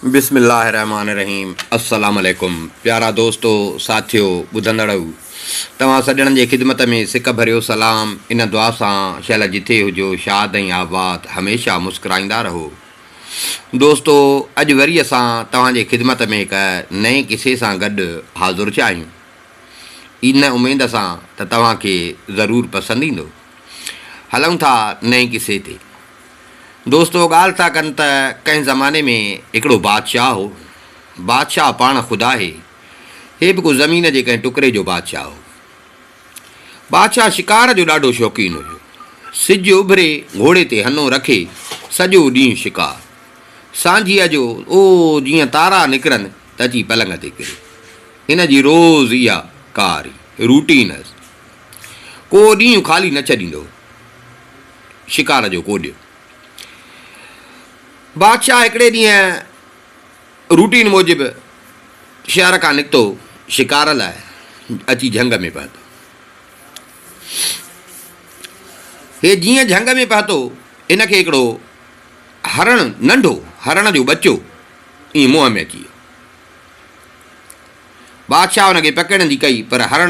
بسم الله الرحمٰن الرحيم السلام عليڪم پيارا دوستو ساٿيو ٻڌندڙئو توهان سڄڻن جي خدمت ۾ سڪ ڀريو سلام ان دعا سان شل جٿي هجو شاد ۽ آباد هميشه مسڪرائيندا رهو دوستو اڄ وري اسان توهان جي خدمت ۾ هڪ نئين قصي سان گڏ حاضر ٿيا آهيون ان اميد سان ته توهان کي ضرور پسند ايندو هلون ٿا نئين قصي تي دوستو ڳالهه ٿا ڪن ته ڪنهن زماني ۾ هڪڙو بادشاهه هو. بادشاهه پاڻ خود آهي. هي به ڪو زمين جي ڪنهن ٽڪري جو بادشاهه هو. بادشاهه شڪار جو ڏاڍو شوقين هيو. سج اڀري گهوڙي تي هنو رکي سڄو ڏينهن شڪار. سانجهيء جو او جيئن تارا نڪرن ته اچي پلنگ تي ڪري. هن جي روز اها ڪاري، روٽين، هئس. ڪو ڏينهن خالي نه ڇڏيندو هو. شڪار جو ڪوڏيو. بادشاهه هڪڙي ڏينهن روٽين موجب شهر کان نڪتو شڪار لاء اچي جهنگ ۾ پهتو. هي جيئن جهنگ ۾ پهتو هن کي هڪڙو هرڻ ننڍو هرڻ جو ٻچو ائين منهن ۾ اچي ويو. بادشاهه هن کي پڪڙڻ جي ڪئي پر هرڻ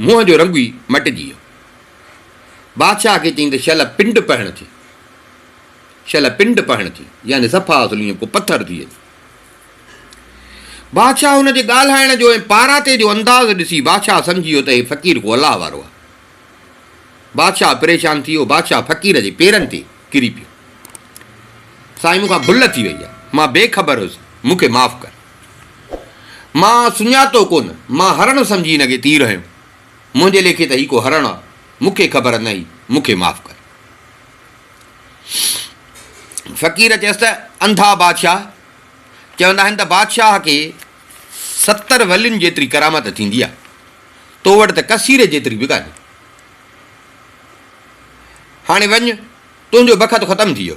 منهن جو رنگ ئي مٽجي ويو. بادشاهه کي چيائين ته شل پنڊ پهڻ ٿي، شل پنڊ پهڻ ٿي، يعني صفا اصل ائين ڪو پٿر ٿي اچي. بادشاهه هن جي ڳالهائڻ جو ۽ پاراٿي جو انداز ڏسي بادشاهه سمجهي ويو ته هي فقير ڪو الله وارو آهي. بادشاهه پريشان ٿي ويو. بادشاهه فقير جي پيرن تي ڪري پيو. سائين مون کان ڀل ٿي وئي آهي. مان بي خبر هيس. مون کي معاف ڪر. مان سڃاتو ڪونه، مان هرڻ سمجهي هن کي تير هنيو. منهنجي ليکي ته هي ڪو هرڻ آ، مون کي خبر نه هئي، مون کي معاف ڪر. فقير چيس ته انڌا بادشاهه، چوندا آهن ته بادشاهه کي ستر ولين جيتري ڪرامت ٿيندي آ، تو وٽ ته ڪسيري جيتري به ڪانهي. هاڻي وڃ، تنهنجو بخت ختم ٿي ويو.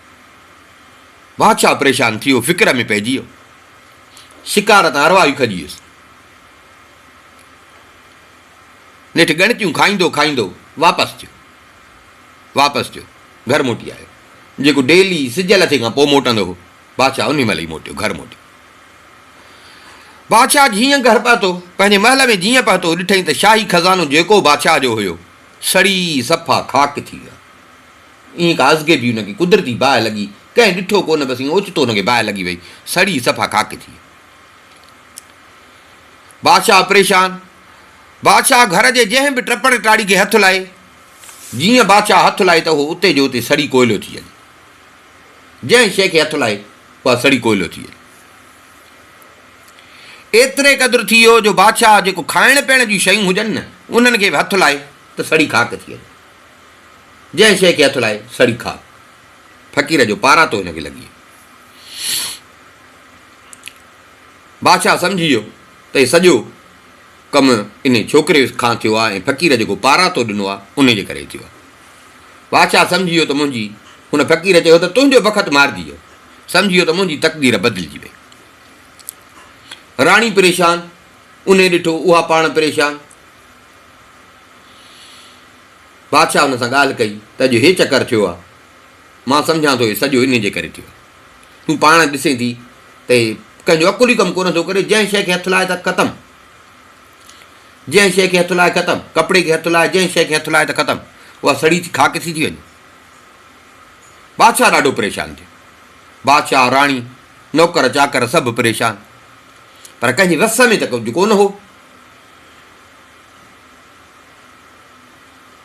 بادشاهه پريشان ٿي ويو، فڪر ۾ پئجي ويو. شڪار تان ارواح ئي کڄي ويس. نيٺ ڳڻتيون کائيندو کائيندو واپس ٿيو. واپس ٿيو، گهر موٽي آيو. جيڪو ڊيلي سج لٿي کان پوء موٽندو هو، بادشاهه انهي مهل ئي موٽيو، گهر موٽيو. بادشاهه جيئن گهر پهتو، پنهنجي محل ۾ جيئن پهتو، ڏٺئي ته شاهي خزانو جيڪو بادشاهه جو هيو، سڙي صفا خاڪ ٿي ويو آهي. ايئن ڪازگي بي ان کي قدرتي باهه لڳي. ڪنهن ڏٺو ڪو نه بس ايئن اوچتو ان کي باهه لڳي ويئي. سڙي صفا خاڪ ٿي ويو. بادشاهه پريشان. بادشاهه گهر جي جنهن به ٽپڙ ٽاڙي کي هٿ لائي. جيئن بادشاهه هٿ لائي ته اهو اتي جو اتي سڙي ڪوئلو ٿي هلي. جنهن شيء کي هٿ لائي اها سڙي ڪوئلو ٿي هلي. ايتري قدر ٿي ويو جو بادشاهه جيڪو کائڻ پيئڻ جون شيون هجن نه انهن کي به هٿ لائي ته سڙي خاڪ ٿي هلي. جنهن شيء کي هٿ لائي سڙي کاء. فقير جو پارا تو هن کي لڳي. بادشاهه سمجهي ويو ته هي سڄو ڪم انهي ڇوڪري کان ٿيو آهي ۽ فقير جيڪو پارا تو ڏنو آهي انهي جي ڪري ٿيو آهي. بادشاهه سمجهي ويو ته منهنجي هن فقير چيو ته تنهنجو بخت مارجي ويو. سمجهي ويو ته منهنجي تقدير بدلجي وئي. راڻي پريشان، انهي ڏٺو اها پاڻ پريشان، بادشاهه ان سان ڳالهه ڪئي ته اڄ هي چڪر ٿيو آهي، مان سمجهان ٿو هي سڄو انهي جي ڪري ٿيو آهي. تون پاڻ ڏسين ٿي ته هي ڪنهن جو عقل ئي ڪم ڪونه ٿو ڪري، جنهن شيء کي هٿ لائي ته ختم، جنهن شيء کي هٿ لائي ختم، ڪپڙي کي هٿ لائي، جنهن شيء کي هٿ لائي ته ختم، اها سڙي ٿي خاڪ ٿي ٿي وڃي. بادشاهه ڏاڍو پريشان ٿيو. بادشاهه، راڻي، نوڪر چاڪر سڀ پريشان، پر ڪنهن جي وس ۾ ته ڪجهه ڪونه هو.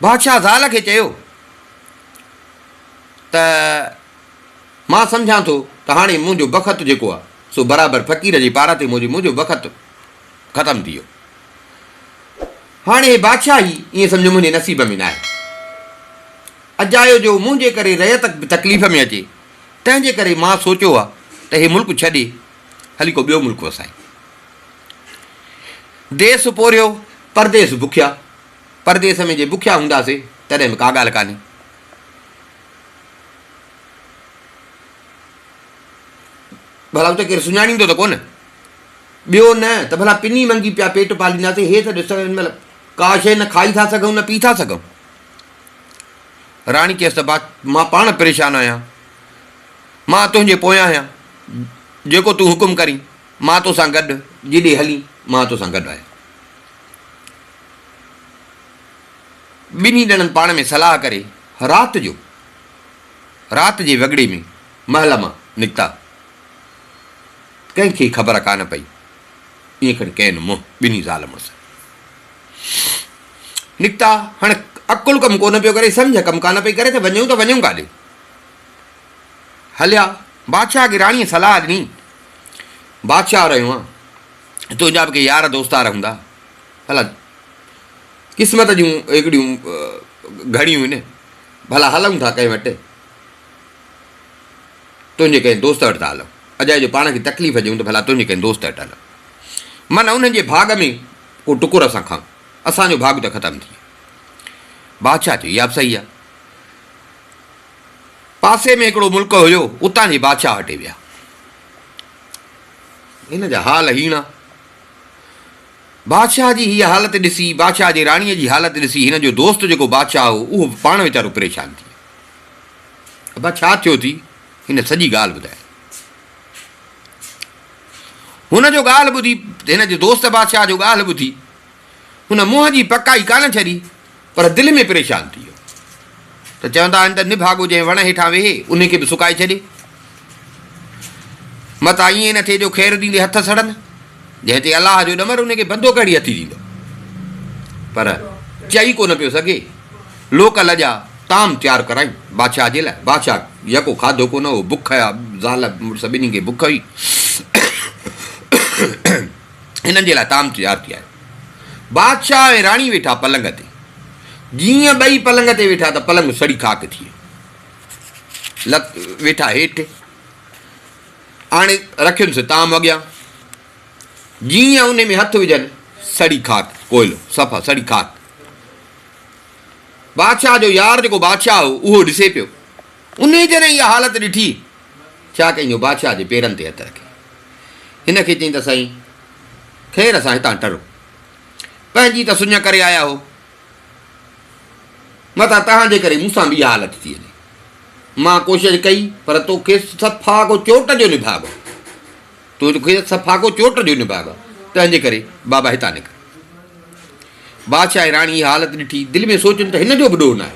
بادشاهه زال کي چيو ته مان سمجهان ٿو ته هاڻي منهنجو بخت جيڪو آهي سو برابر فقير جي پاراتي موجب منهنجو بخت ختم ٿي ويو هاڻي هي بادشاهه ئي ائين سمجهو منهنجي نصيب ۾ ناهي اجايو جو منهنجي ڪري ريت به تڪليف ۾ اچي تنهن جي ڪري مان سوچيو آهي ته هي ملڪ ڇڏي هلي ڪو ٻيو ملڪ وسائي. ديس پورهيو، پرديس بکيا. پرديس ۾ جي بکيا هونداسين، تڏهن به ڪا ڳالهه ڪانهي. ڀلا اتي ڪير سڃاڻيندو ته ڪونه؟ ٻيو نه ته ڀلا پني منگي پيا پيٽ پالينداسين. هي ته ڏس، هن مهل ڪا شيء نه کائي ٿا سگهون، نه پي ٿا سگهون. راڻي چيس ته مان پاڻ پريشان آهيان. مان تنهنجي پويان آهيان، جيڪو تون حڪم ڪرين، مان تو سان گڏ، جيڏي هلين، مان تو سان گڏ آهيان. ٻنهي ڄڻن پاڻ ۾ صلاح ڪري رات جو رات جي وڳڙي ۾ محل مان نڪتا. ڪنهن کي خبر ڪانه پئي. ائين کڻي ڪين منهن ٻنهي زال مڙس نڪتا. هاڻ عقل ڪم ڪونه پيو ڪري، سمجهه ڪم ڪانه پئي ڪري ته وڃون ته وڃون ڪاڏي؟ هليا، بادشاهه کي راڻيء صلاح ڏني، بادشاهه رهيو آن، تنهنجا به ڪي يار دوستار هوندا، ڀلا قسمت جون هڪڙيون گهڙيون هن، ڀلا هلون ٿا ڪنهن وٽ، تنهنجي ڪنهن دوست وٽ ٿا هلون، اجائي جو پاڻ کي تڪليف ڏيون ته ڀلا تنهنجي ڪنهن دوست وٽ هلون، من انهن جي ڀاڳ ۾ ڪو ٽڪر اسان کائون، اسان جو ڀاڳ ته ختم ٿي ويو. بادشاهه چيو، اها به صحيح آ. پاسي ۾ هڪڙو ملڪ هيو، اتان جي بادشاهه هٽي ويا. هن جا حال هيڻا. بادشاهه جي هيء حالت ڏسي، بادشاهه جي راڻيء جي حالت ڏسي، هن جو دوست جيڪو بادشاهه هو، اهو به پاڻ ويچارو پريشان ٿي ويو. ابا ڇا ٿيو ٿي؟ هن سڄي ڳالهه ٻڌائي. هن جو ڳالهه ٻڌي، هن جي دوست بادشاهه جو ڳالهه ٻڌي، هن منهن جي پڪائي ڪانه ڇڏي. پر دل ۾ پريشان ٿي ويو ته چوندا آهن ته نڀاڳو جنهن وڻ هيٺان ويهي انهي کي به سڪائي ڇڏي. متان ائين نه ٿئي جو خير ڏيندي هٿ سڙن. جنهن تي الله جو ڏمر انهي کي بندو ڪهڙي هٿي ڏيندو. پر چئي ڪو نه پيو سگهي. لوڪ لڄا طعام تيار ڪرايون بادشاهه جي لاء. بادشاهه يڪو کاڌو ڪو نه هو. بک هيا. زال مڙس ٻنهي کي بک هئي. هنن جي لاء طعام تيار ٿي آيو. بادشاهه ۽ راڻي ويٺا پلنگ تي. جيئن ٻئي پلنگ تي ويٺا ته پلنگ سڙي خاڪ ٿي ويو. لت ويٺا هيٺ آڻي رکيونس طعام اڳيان. جيئن انهي ۾ هٿ وجهن سڙي خاڪ، ڪوئلو، صفا سڙي خاڪ. بادشاهه جو يار جيڪو بادشاهه هو اهو ڏسي پيو. انهيء جڏهن اها حالت ڏٺي، ڇا ڪيائين جو بادشاهه جي پيرن تي هٿ رکي، هن کي چيائين ته سائين، خير اسان هتان ٽرون. پنهنجي ته سڃ ڪري آيا هو، متان توهان جي ڪري مون سان به اها حالت ٿي وڃي. مان ڪوشش ڪئي، پر تو کي صفا ڪو چوٽ جو نڀاڳ هو. تو کي صفا ڪو چوٽ جو نڀاڳ هو، تنهن جي ڪري بابا هتان نڪر. بادشاهه ۽ راڻي اها حالت ڏٺي، دل ۾ سوچيم ته هن جو به ڏوهه ناهي.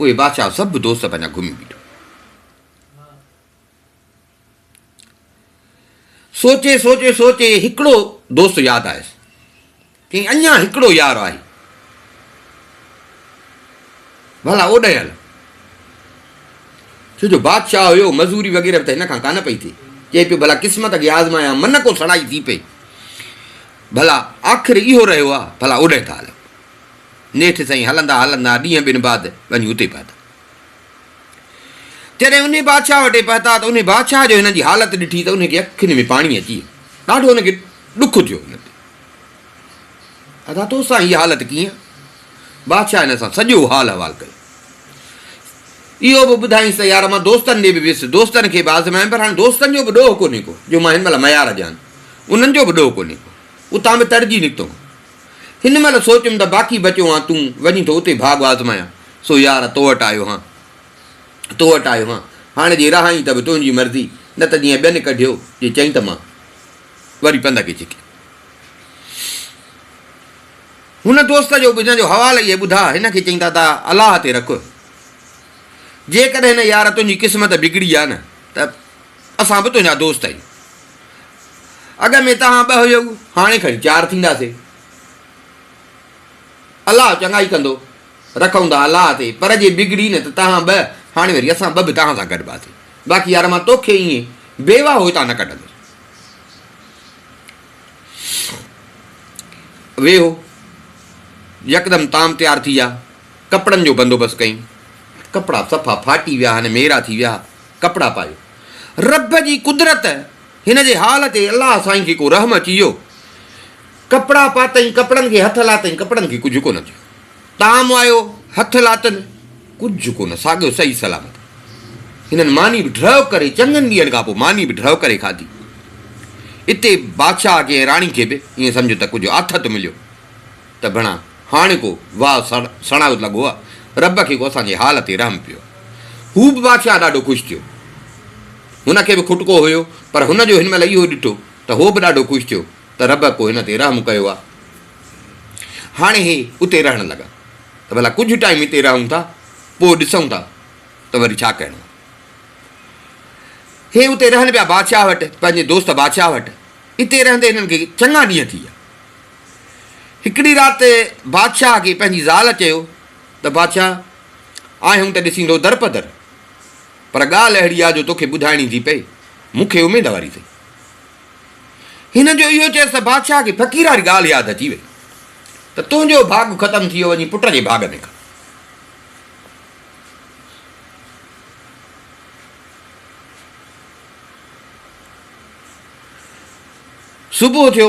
اهي بادشاهه سڀ دوست پنهنجا گهمي بيٺو. سوچي سوچي سوچي هڪڙو دوست ياد آيس. چيائين اڃا هڪڙو يار آهي. ڀلا اوڏانهن هل. ڇو جو بادشاهه هيو مزوري وغيره به ته هن کان ڪانه پئي ٿئي. چئي پيو ڀلا قسمت کي آزمايان من ڪو سڙائي ٿي پئي. ڀلا آخر اهو رهيو آهي ڀلا اوڏانهن ٿا هلون. نيٺ سائين هلندا هلندا ڏينهن ٻن بعد وڃي اتي پهتا. جڏهن انهي بادشاهه وٽي پهتا ته انهي بادشاهه جو هنن جي حالت ڏٺي ته انهي کي اکين ۾ پاڻي اچي ويو. ڏاڍو هن کي ڏک ٿيو. هن تي ادا تو سان هي حالت ڪيئن؟ بادشاهه هن سان سڄو حال احوال ڪيو. اهو به ٻڌائينس ته يار مان دوستن ڏي به ويس، دوستن کي به آزمايم پر هاڻي دوستن جو به ڏوهه ڪونهي ڪو جو مان هن مهل ميار ڏيان. انهن جو به ڏوهه ڪونهي ڪو. اتان به تڙجي نڪتم. هن مهل سوچيم ته باقي بچيو هان تون، وڃي ٿو اتي ڀاڳ آزمايان. سو يار تو وٽ آيو هان. تو وٽ آيو هان. هاڻي جي رهائين ته به تنهنجي مرضي، نه ته جيئن ٻين ڪڍيو، جي چئين ته مان. وري پنڌ کي ڇڪي. هن دوست جو به هن جو حوال اهي ٻڌا، هن کي چئين ته ادا الله تي رک. جيڪڏهن هن يار تنهنجي قسمت بگڙي آ نه ته. اسان به تنهنجا دوست آهيون. اڳ ۾ توهان ٻه هيؤ، هاڻي کڻي چار ٿينداسي. الله چڱائي ڪندو. رکئون ٿا الله تي، پر جي بگڙي نه ته توهان ٻه، هاڻي وري اسان ٻه به توهان سان گڏباسي. باقي يار مان توکي ائين بي واهو هتان نه ڪڍندس. ويهو. يڪدم تام تيار ٿي ويا. ڪپڙن جو بندوبست ڪيائين. ڪپڙا صفا ڦاٽي ويا آهن، ميرا ٿي ويا. ڪپڙا پايو. رب جي قدرت هن جي حال تي الله سائين کي ڪو رحم اچي ويو. ڪپڙا پاتئين، ڪپڙن کي هٿ لاتئين، ڪپڙن کي ڪجهه ڪونه ٿيو. طعام آيو، هٿ لاتن، ڪجهه ڪونه، ساڳيو صحيح سلامت. هنن ماني به ڍرو ڪري، چڱن ڏينهن کان پوء ماني به ڍرو ڪري کاڌي. اتي بادشاهه کي ۽ راڻي کي به ائين سمجهه ته ڪجهه آٿت مليو. ته گهڻا هاڻيڪو واء سڻائو لڳ هئا. رب کي ڪو اسان جي حال تي رحم پيو. هو به بادشاهه ڏاڍو خوش ٿيو. هن کي به کٽڪو هيو پر هن جو هن مهل اهو ڏٺو ته هو به ڏاڍو خوش ٿيو ته رب ڪو هن تي رحم ڪيو آ. هاڻي هي اتي رهڻ لڳا ته ڀلا ڪجهه ٽائيم اتي رهون ٿا پوء ڏسون ٿا ته وري ڇا ڪرڻو آ. هي اتي رهن پيا بادشاهه وٽ پنهنجي دوست بادشاهه وٽ. اتي رهندي هنن کي چڱا ڏينهن ٿي ويا. هڪڙي رات بادشاهه کي پنهنجي زال چيو ته بادشاهه آهيون ته ڏسيندو در پدر پر ڳالهه اهڙي آ جو توکي ٻڌائڻي ٿي پئي مون کي اميد واري ٿئي. هن جو اهو چيس ته بادشاهه کي فقير واري ڳالهه ياد اچي وئي ته تنهنجو ڀاڳ ختم ٿي ويو وڃي پٽ جي ڀاڳ ۾ ڪر. صبح ٿيو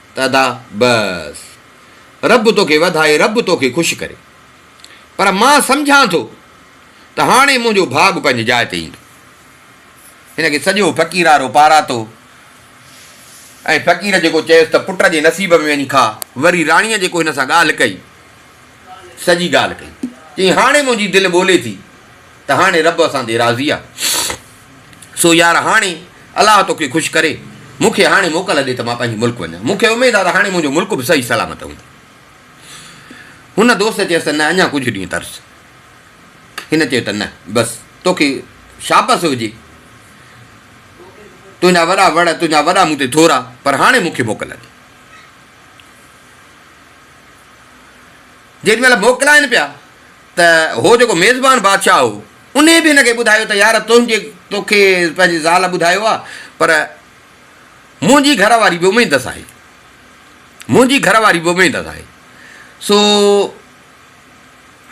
ته ادا بس رب توکي وڌائي رب توکي خوش ڪري پر مان سمجهان ٿو ته هاڻي منهنجو ڀاڳ پنهنجي جاء تي ايندو. هن کي سڄو فقيرارو پاراتو ۽ فقير جيڪو چيس ته پٽ جي نصيب ۾ وڃي کاء وري راڻيء جيڪو هن سان ڳالهه ڪئي سڄي ڳالهه ڪئي چيائين هاڻي منهنجي دل ٻولي ٿي. ته هاڻي رب اسان تي راضي آ، سو يار هاڻي الله توکي خوش ڪري، مون کي هاڻي موڪل ڏي ته مان پنهنجي ملڪ وڃان، مون کي اميد آ ته هاڻي منهنجو ملڪ به صحيح سلامت هوندو. هن دوست چيس ته نه اڃا ڪجهه ڏينهن ترس. هن چيو ته نه بس توکي شابس هجي، تنهنجا وڏا وڙ، تنهنجا وڏا مون تي ٿورا، پر هاڻي مون کي موڪل ڏي. جيڏي مهل موڪلائين پيا ته هو جيڪو ميزبان بادشاهه هو، انهيء به هن کي ٻڌايو ته يار تنهنجي تو کي پنهنجي زال ٻڌايو آهي، پر منهنجي گهر واري به اميدس آهي. منهنجي گهر واري به اميدس آهي. سو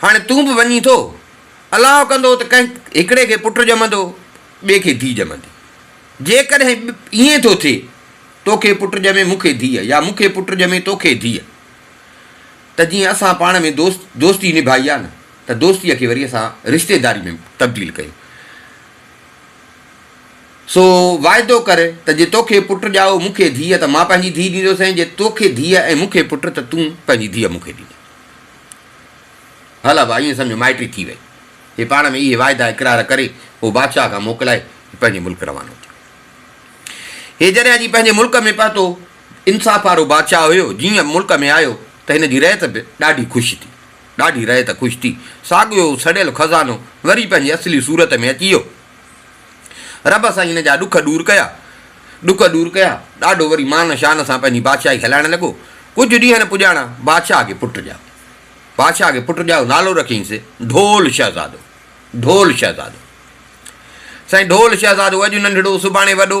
هاڻي تون به وڃين ٿو. الله ڪندو ته ڪنهن هڪڙي کي پٽ ڄمندو، ٻئي کي ڌيء ڄمندي. جيڪڏهن ائين ٿو ٿئي، تو کي پٽ ڄمي مون کي ڌيء يا مون کي پٽ ڄمي تو کي ڌيء. ته جيئن اسان پاڻ ۾ دوست دوستي نڀائي آ نه ته دوستيء کي وري اسان رشتيداري ۾ تبديل ڪيون. سو واعدو ڪر ته جي توکي پٽ ڄائو مون کي ڌيء ته مان پنهنجي ڌيء ڏيندوس ۽ جي توکي ڌيء ۽ مون کي پٽ ته تون پنهنجي ڌيء مون کي ڏيندين. هل ابا ائين سمجهه مائٽي ٿي وئي. هي پاڻ ۾ اهي واعدا اقرار ڪري پوء بادشاهه کان موڪلائي پنهنجي ملڪ روانو ٿيو. هي جڏهن اچي پنهنجي ملڪ ۾ پهتو انصاف وارو بادشاهه هيو، جيئن ملڪ ۾ آيو ته هن جي رعيت به ڏاڍي خوش ٿي. ڏاڍي رعيت خوش ٿي. ساڳيو سڙيل خزانو وري پنهنجي اصلي صورت ۾ اچي ويو. رب سائين هن جا ڏک ڏور ڪيا. ڏک ڏور ڪيا. ڏاڍو وري مان شان سان پنهنجي بادشاهي هلائڻ لڳو. ڪجهه ڏينهن پڄاڻا بادشاهه کي پٽ ڄائو. بادشاهه کي پٽ ڄائو نالو رکيائينس ڍول شهزادو. ڍول شهزادو. سائين ڍول شهزادو اڄ ننڍڙو سڀاڻي وڏو.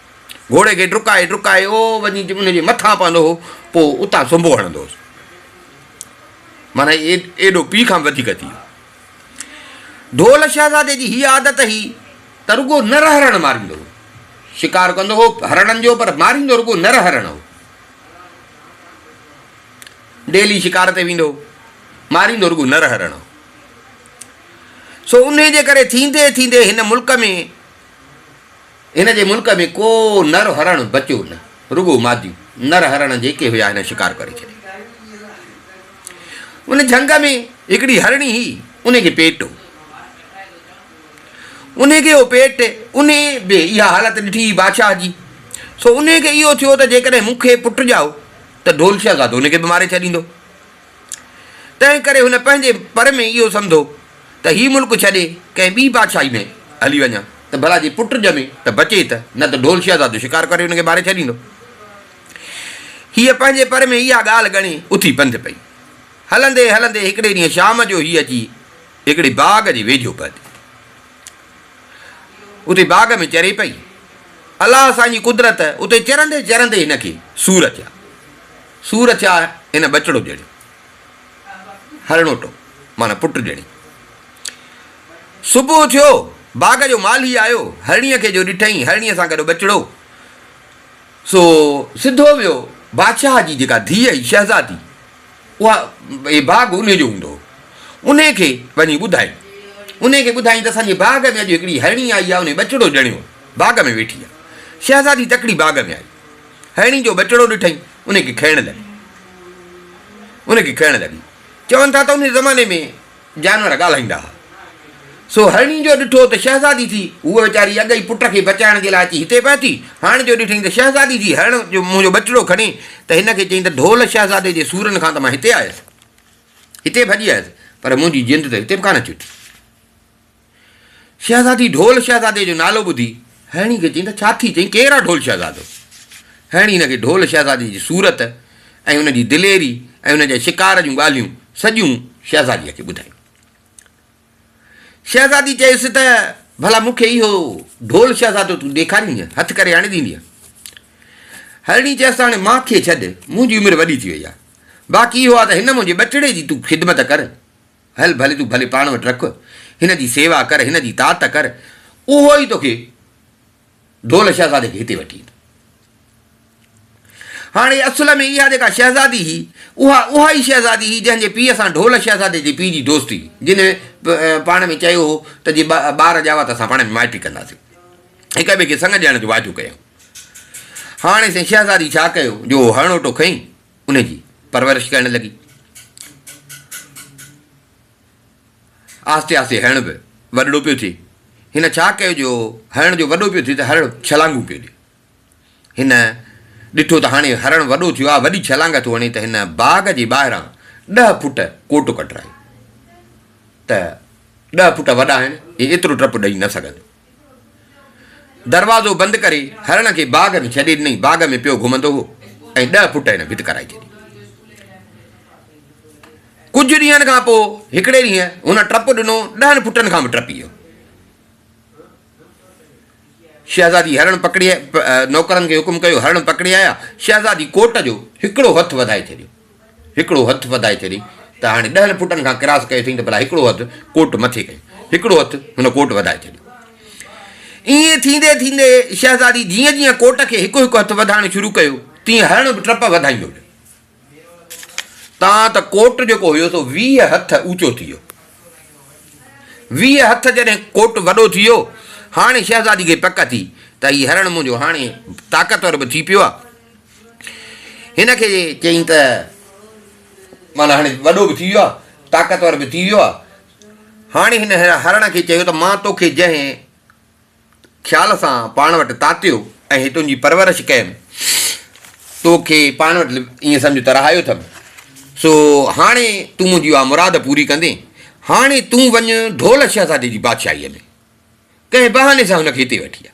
گهوڙي کي ڊڪائي ڊڪائي او وڃي ان جي مٿان پوندو هو پوء اتان سنبو هڻندو هوس معنيٰ ايڏو پيء کان به وڌيڪ ٿي ويو ڍول شهزادي جي هي عادت هئي ته رڳو نر هرڻ ماريندو هو شڪار ڪندو هو هرڻن جو پر ماريندو رڳو نر هرڻ هو ڊيلي شڪار تي ويندو ماريندو رڳو نر هرڻ هو سو ان جي ڪري ٿيندي ٿيندي هن ملڪ ۾ هن جي ملڪ ۾ ڪو نر هرڻ بچيو نه، رڳو ماديون نر هرڻ جيڪي هيا هن شڪار ڪري ڇڏيا. ان جهنگ ۾ هڪڙي هرڻي هئي، ان کي پيٽ هو. ان کي هو پيٽ، ان به اها حالت ڏٺي بادشاهه جي، سو ان کي اهو ٿيو ته جيڪڏهن مون کي پٽ ڄائو ته ڍولشا گادو ان کي به ماري ڇڏيندو. تنهن ڪري هن پنهنجي پر ۾ اهو سمڌو ته هي ملڪ ڇڏي ڪنهن ٻي بادشاهي ۾ هلي وڃان ته ڀلا جي پٽ ڄمي ته بچي ته نه ته ڍول شهزادو شڪار ڪري هن کي ماري ڇڏيندو. هيء پنهنجي پر ۾ اها ڳالهه ڳڻي اٿي پنڌ پئي. هلندي هلندي هڪڙي ڏينهن شام جو هيء اچي هڪڙي باغ جي ويجهو پهتي. اتي باغ ۾ چري پئي. الله سان جي قدرت اتي چرندي چرندي هن کي سور اچيا. سور ٿيا هن ٻچڙو ڄڻي هرڻوٽو معنيٰ پٽ ڄڻي. صبح ٿيو، باغ جو مالهي آيو، هرڻيء کي جو ڏٺئي، هرڻيء سان گڏ ٻچڙو، سو سڌو ويو بادشاهه جي جيڪا ڌيء هئي شهزادي، اها هي باغ انهي جو هوندو هو، انهي کي وڃي ٻڌائين. انهي کي ٻڌائين ته اسان جي باغ ۾ اڄ هڪڙي هرڻي آئي آهي، انهي ٻچڙو ڄڻيو باغ ۾ ويٺي آهي. شهزادي تڪڙي باغ ۾ آئي. هيڻي جو ٻچڙو ڏٺئين، ان کي کائڻ لڳي. ان کي کائڻ لڳي. چون ٿا ته ان زماني ۾ جانور ڳالهائيندا ها. سو هيڻي جو ڏٺو ته شهزادي ٿي، هوء ويچاري اڳ ئي پٽ کي بچائڻ جي لاء اچي هتي پهتي، هاڻ جو ڏٺئين ته شهزادي ٿي هيڻ جو منهنجو ٻچڙو کڻي ته هن کي چئي ته ڍول شهزادي جي سورن کان ته مان هتي آيس، هتي ڀڄي آيس، پر منهنجي جند ته هتي به ڪانه چوٽي. شهزادي ڍول شهزادي جو نالو ٻڌي هيڻي کي چيائين ته ڇا ٿي چئين ڪير آ ڍول شهزادو؟ هيڻي هن کي ڍول شهزادي جي صورت ۽ ان جي دليري ۽ ان جي شڪار جون ڳالهيون سڄيون شهزاديء کي ٻڌايون. شهزادي چيس ته ڀلا مون کي اهو ڍول شهزادو تون ڏيکاريندينء، هٿ ڪري آڻي ڏيندينء؟ هيڻي چيس ته هاڻي مان کي ڇڏ، منهنجي عمر وڏي ٿي وئي آ، باقي اهو آ ته هن منهنجي ٻچڙي جي تون خدمت ڪر، هل ڀلي تون ڀلي پاڻ وٽ رک، هن جي سيوا ڪر، هن جي طاعت ڪر، اهو ئي توکي ڍول شهزادي کي هتي وٺي ايندو. هاڻي اصل ۾ اها جيڪا شهزادي هئي، اها اها ئي شهزادي هئي، جنهن جي پيء سان ڍول شهزادي جي پيء جي دوستي هئي، جنهن پاڻ ۾ چيو هو ته جي ٻار ڄاوا ته اسان پاڻ ۾ مائٽي ڪنداسين، هڪ ٻئي کي سڱ ڏيڻ جو واعدو ڪيائون. هاڻي سائين شهزادي ڇا ڪيو جو اهو هرڻوٽو کنئي. ان جي پرورش ڪرڻ لڳي. آهستي آهستي هرڻ به وڏڙو پيو ٿئي. هن ڇا ڪيو جو هرڻ جو وڏو پيو ٿئي ته هرڻ ڇلانگون پيو ڏئي. هن ڏٺو ته هاڻي هرڻ وڏو ٿيو آهي وڏي ڇلانگ ٿو هڻي ته هن باغ جي ٻاهران ڏهه فوٽ ڪوٽ ڪڍرايو ته ڏهه فوٽ وڏا آهن هي ايترو ٽپ ڏئي نه سگهندو. دروازو بند ڪري هرڻ کي باغ ۾ ڇڏي ڏنائين، باغ ۾ پيو گهمندو هو ۽ ڏهه فوٽ هن ڀت ڪرائي ڇڏي. ڪجهه ڏينهن کان پوء هڪڙي ڏينهن هن ٽپ ڏنو، ڏهن فوٽن کان به ٽپي ويو. شهزادي هرڻ پڪڙي نوڪرن کي حڪم ڪيو هرڻ پڪڙي آيا، شهزادي ڪوٽ جو هڪڙو هٿ وڌائي ڇڏيو. هڪڙو هٿ وڌائي چري ته هاڻي ڏهن فٽن کان ڪراس ڪيو اٿئين ته ڀلا هڪڙو هٿ ڪوٽ مٿي ڪيو. هڪڙو هٿ هن ڪوٽ وڌائي ڇڏيو. ائين ٿيندي ٿيندي شهزادي جيئن جيئن ڪوٽ کي هڪ هڪ هٿ وڌائڻ شروع ڪيو تيئن هرڻ به ٽپ وڌائيندو ويو تان ته ڪوٽ جيڪو هيو سو ويهه هٿ اوچو ٿي ويو. ويهه هٿ جڏهن ڪوٽ وڏو ٿي ويو هاڻي شهزادي کي پڪ ٿي ته هي هرڻ منهنجو هاڻي طاقتور به ٿي پيو آهي. هن کي چيائين ته معنيٰ هاڻي وڏو به ٿي ويو آهي طاقتور به ٿي ويو آهي هاڻي هن هرڻ کي چيو ته مان توکي جنهن خيال سان پاڻ وٽ تاتيو ۽ تنهنجي پرورش ڪيم توکي پاڻ وٽ ائين سمجهه ته رهايو اٿم سو هاڻي تون منهنجي اها مراد پوري ڪندي هاڻي تون وڃ ڍول شهزادي جي بادشاهيء ۾ ڪنهن بهاني سان هن کي هتي وٺي آ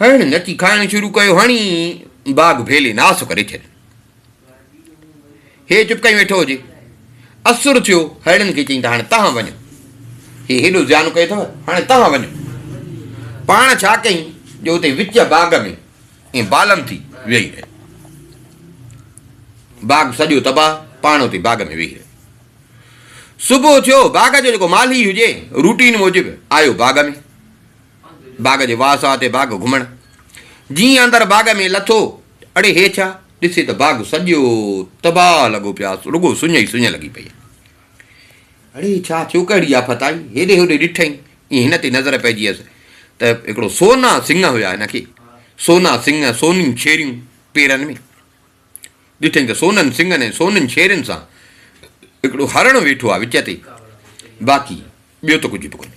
هن نچي کائڻ شروع ڪيو هڻي باغ ڀيلي ناس ڪري ڇڏي هي چپ ڪيو ويٺو هجي اسر ٿيو هيڙن کي چيائين ته هاڻي تهان وڃو هي هيڏو زيان ڪيو اٿو هاڻي تهان وڃو پاڻ ڇا ڪيائين جو اتي وچ باغ ۾ ائين بالن ٿي ويهي رهي باغ سڄو تباهه پاڻ اتي باغ ۾ ويهي رهي صبح ٿيو باغ جو جيڪو مالهي هجي روٽين موجب آيو باغ ۾ باغ جي واهه ساهه تي باغ گهمڻ. جيئن اندر باغ ۾ لٿو، اڙي هي ڇا؟ ڏسي ته باغ سڄو تباهه لڳو پيو آهي، رڳو سڃ ئي سڃ لڳي پئي آهي. اڙي هي ڇا ٿيو، ڪهڙي آفت آئي؟ هيڏي هوڏي ڏٺئي، ائين هن تي نظر پئجيس ته هڪڙو سونا سنگهه هيا هن کي، سونا سنگهه، سونيون شيريون پيرن ۾. ڏٺئي ته سونن سنگهن ۽ سونين شيرين سان هڪڙو هرڻ ويٺو آهي وچ تي، باقي ٻيو ته ڪجهه به ڪونهي.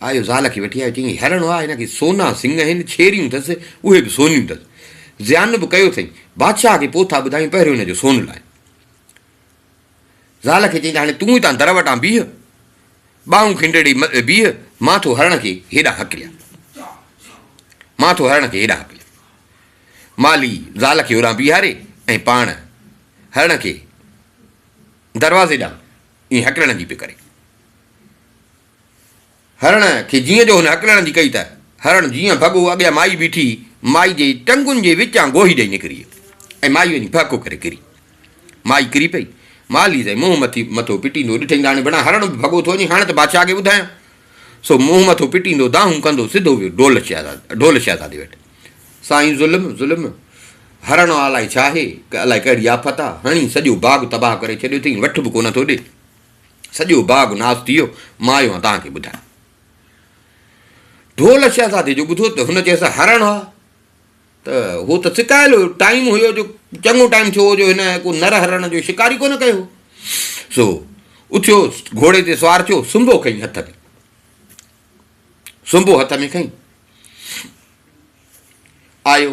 آيو زال کي وٺي آيو، چيائين هرڻ هئا، هن کي سونا سڱ آهن، ڇيريون اٿس، اهي به سونيون اٿس. زيان به ڪيو اٿئي. بادشاهه کي پوء ٿا ٻڌايون، پهريون هن جو سون لاء. زال کي چيائين ته هاڻي تون هتان در وٽان بيهه، ٻانهون کنڊڙي بيهه، مان ٿو هرڻ کي هيڏانهن هڪليان. مان ٿو هرڻ کي هيڏانهن هڪليان. مالهي زال کي هوڏانهن بيهاري ۽ پاڻ هرڻ کي دروازي ڏانهن ائين هڪلڻ جي پئي ڪري. هرڻ کي جيئن جو هن هڪلڻ جي ڪئي ته هرڻ جيئن ڀڳو اڳيان مائي بيٺي مائي جي ٽنگن جي وچان گوهي ڏئي نڪري ۽ مائي وڃي ڀهڪو ڪري ڪري مائي ڪري پئي ماليز ۽ منهن مٿي مٿو پٽيندو ڏٺئي ته هاڻي بنا هرڻ به ڀڳو ٿو وڃي هاڻي ته بادشاهه کي ٻڌايان سو منهن مٿو پٽيندو دانهون ڪندو سڌو ويو ڍول شهزاد ڍول شهزادي وٽ سائين ظلم ظلم هرڻ الائي ڇا آهي ڪه الائي ڪهڙي آفت آ هڻي سڄو باغ تباهه ڪري ڇڏيو اٿئي وٺ به ڪونه ٿو ڏي سڄو باغ ناس ٿي ويو، مان آيو آهيان توهان کي ٻڌائڻ. ڍول شهزادي جو ٻڌو ته هن چيس هرڻ ها ته هو ته سڪايل هيو، ٽائيم هيو جو چڱو ٽائيم ٿيو هو جو هن ڪو نر هرڻ جو شڪار ئي ڪونه ڪيو هو. سو اٿيو گهوڙي تي سوار ٿيو، سنبو کنئي هٿ ۾. سنبو هٿ ۾ کنئي آيو.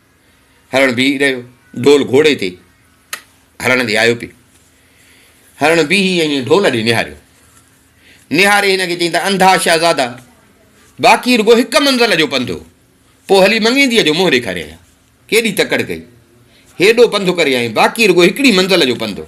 هرڻ بيهي رهيو ڍول گهوڙي تي هرڻ ڏي آيو پيو هرڻ بيهي ائين ڍول ڏي نهاريو نهاري هن کي چيائين ته انڌا شهزادا باقي رڳو هڪ منزل جو پنڌ هو پوء هلي مڱينديء جو منهن ڏيکاري آيا ڪيڏي تڪڙ ڪئي هيڏو پنڌ ڪري آئين باقي رڳو هڪڙي منزل جو پنڌ هو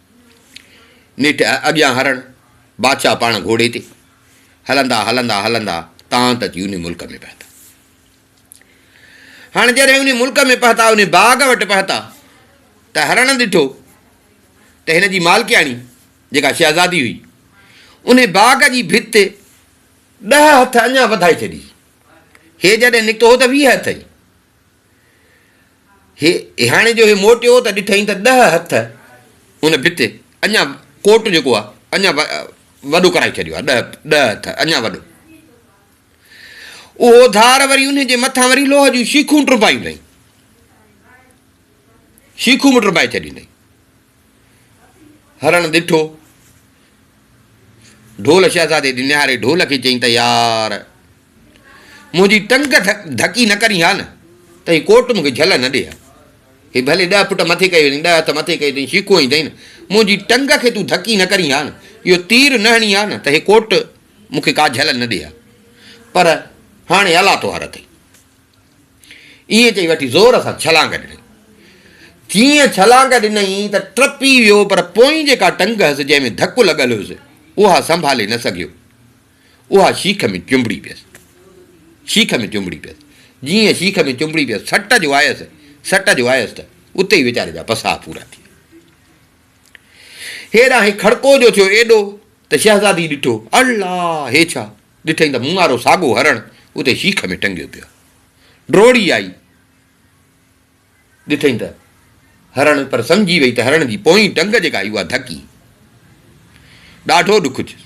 نيٺ اڳيان هرڻ، بادشاهه پاڻ گهوڙي تي، هلندا هلندا هلندا تان ته اچي انهي ملڪ ۾ پهتا. هاڻ جڏهن انهي ملڪ ۾ پهتا، انهي باغ وٽ پهتا ته هرڻ ڏٺو ته هن جي مالڪياڻي جيڪا شهزادي هئي، انهي باغ جي ڀت ڏهه هٿ اڃا وڌائي ڇڏي هئي. هي جڏهن نڪتو هو ته ويهه هٿ هئي. هي هياڻي جو هي موٽيو ته ڏٺئين ته ڏهه هٿ ان ڀت اڃا ڪوٽ جيڪو آهي اڃا وڏو ڪرائي ڇڏيو آهي ڏهه ڏهه هٿ اڃا وڏو اهو ڌار وري ان جي مٿان وري لوهه جون شيخون ٽربائيون اٿئي شيخون به ٽربائي ڇڏيون اٿئي هرڻ ڏٺو. ڍول شهزادي ڏي نهاري ڍول کي چيائين ته يار! منهنجي ٽنگ ڌڪي نه ڪرين ها نه ته هي ڪوٽ مون کي جهل نه ڏي ها. هي ڀلي ڏهه پٽ مٿي ڪيو اٿئي، ڏهه هٿ مٿي ڪيو اٿئي، شيخو هئين نه، منهنجي ٽنگ کي تون ڌڪي نه ڪرين ها نه، اهو تير نه هڻين ها نه ته هي ڪوٽ مون کي ڪا جهل نه ڏي ها. پر هاڻي الله تهوار اٿئي. ائين چئي وٺي زور سان ڇلانگ ڏني. جيئن ڇلانگ ڏنئين ته ٽپي ويو پر پوئين جيڪا ٽنگ هئس جنهن ۾ ڌڪ لڳل هيس اها سنڀالي نه سگهيو. اها شيخ ۾ چنبڙي پيس. شيخ ۾ چنبڙي پيس. جيئن شيخ ۾ چنبڙي پيس سٽ جو آيس سٽ جو آيس ته اتي ئي ويچاري جا پساهه پورا ٿي ويا. هيڏانهن کڙڪو جو ٿيو ايڏو ته شهزادي ڏٺو، الله! هي ڇا؟ ڏٺئين ته مون وارو ساڳو هرڻ اتي شيخ ۾ ٽنگيو پيو آهي. ڊوڙي آئي ڏٺئين ته هرڻ پر سمجهي وئي ته هرڻ جي پوئين ٽنگ جيڪا هئي اها ڌڪي. ڏاڍو ڏک ٿيس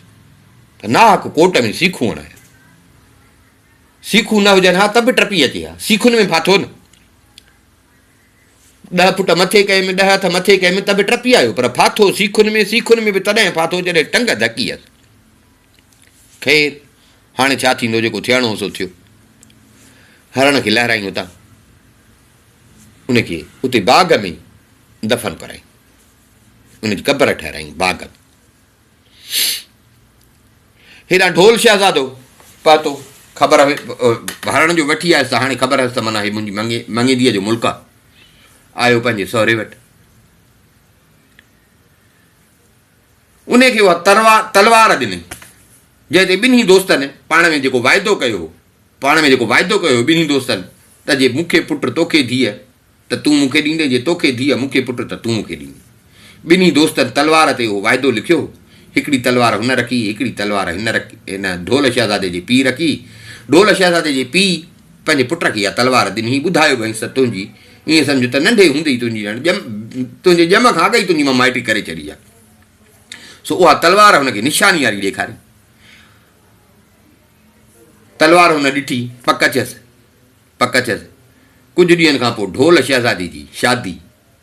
ته ناحق ڪوٽ ۾ سيخون هڻايا. سيخون نه هجن ها ته به ٽپي اچي ها. سيخن ۾ ڦاٿو نه. ڏهه فٽ مٿي ڪيم، ڏهه هٿ مٿي ڪيم ته به ٽپي آيو پر ڦاٿو سيخن ۾، سيخن ۾ به تڏهن ڦاٿو جڏهن ٽنگ ڌڪي هيس. خير هاڻي ڇا ٿيندو جيڪو ٿيڻو هو سو ٿيو هرڻ کي لهرائين اتان ان کي اتي باغ ۾ دفن ڪرائين ان جي قبر ٺهرائين باغ ۾ هيڏانهن ڍول شهزادو پهتو خبر هرڻ جو وٺي آيس ته هاڻي خبر هيس ته مانا هي منهنجي مڱي مڱيديء جو ملڪ آهي آيو پنهنجي سهري وٽ انهيء کي اها تلوار ڏني، جنهن تي ٻنهي دوستن پاڻ ۾ جيڪو واعدو ڪيو هو، پاڻ ۾ جيڪو واعدو ڪيو هو ٻنهي دوستن ته جي مون کي پٽ تو کي ڌيء ته تون مون کي ڏيندين، جي تو کي ڌيء مون کي پٽ ته تون مون کي ڏيندين. ٻنهي دوستن تلوار تي اهو واعدو لکيو هو. هڪڙي تلوار هن رکي، هڪڙي تلوار هن ڍول شهزادي جي پيء رکي. ڍول شهزادي جي پيء. پنهنجي پٽ کي اها تلوار ڏني، ٻڌايو به هئيس ته تنهنجي، ائين سمجهه ته ننڍي هوندي ئي تنهنجي ڄڻ ڄم، تنهنجي ڄم کان اڳ ئي تنهنجي مان مائٽي ڪري ڇڏي آهي. سو اها تلوار هن کي نشاني واري ڏيکاري. تلوار هن ڏٺي، پڪ ٿيس، پڪ ٿيس. ڪجهه ڏينهن کان پوء ڍول شهزادي جي شادي.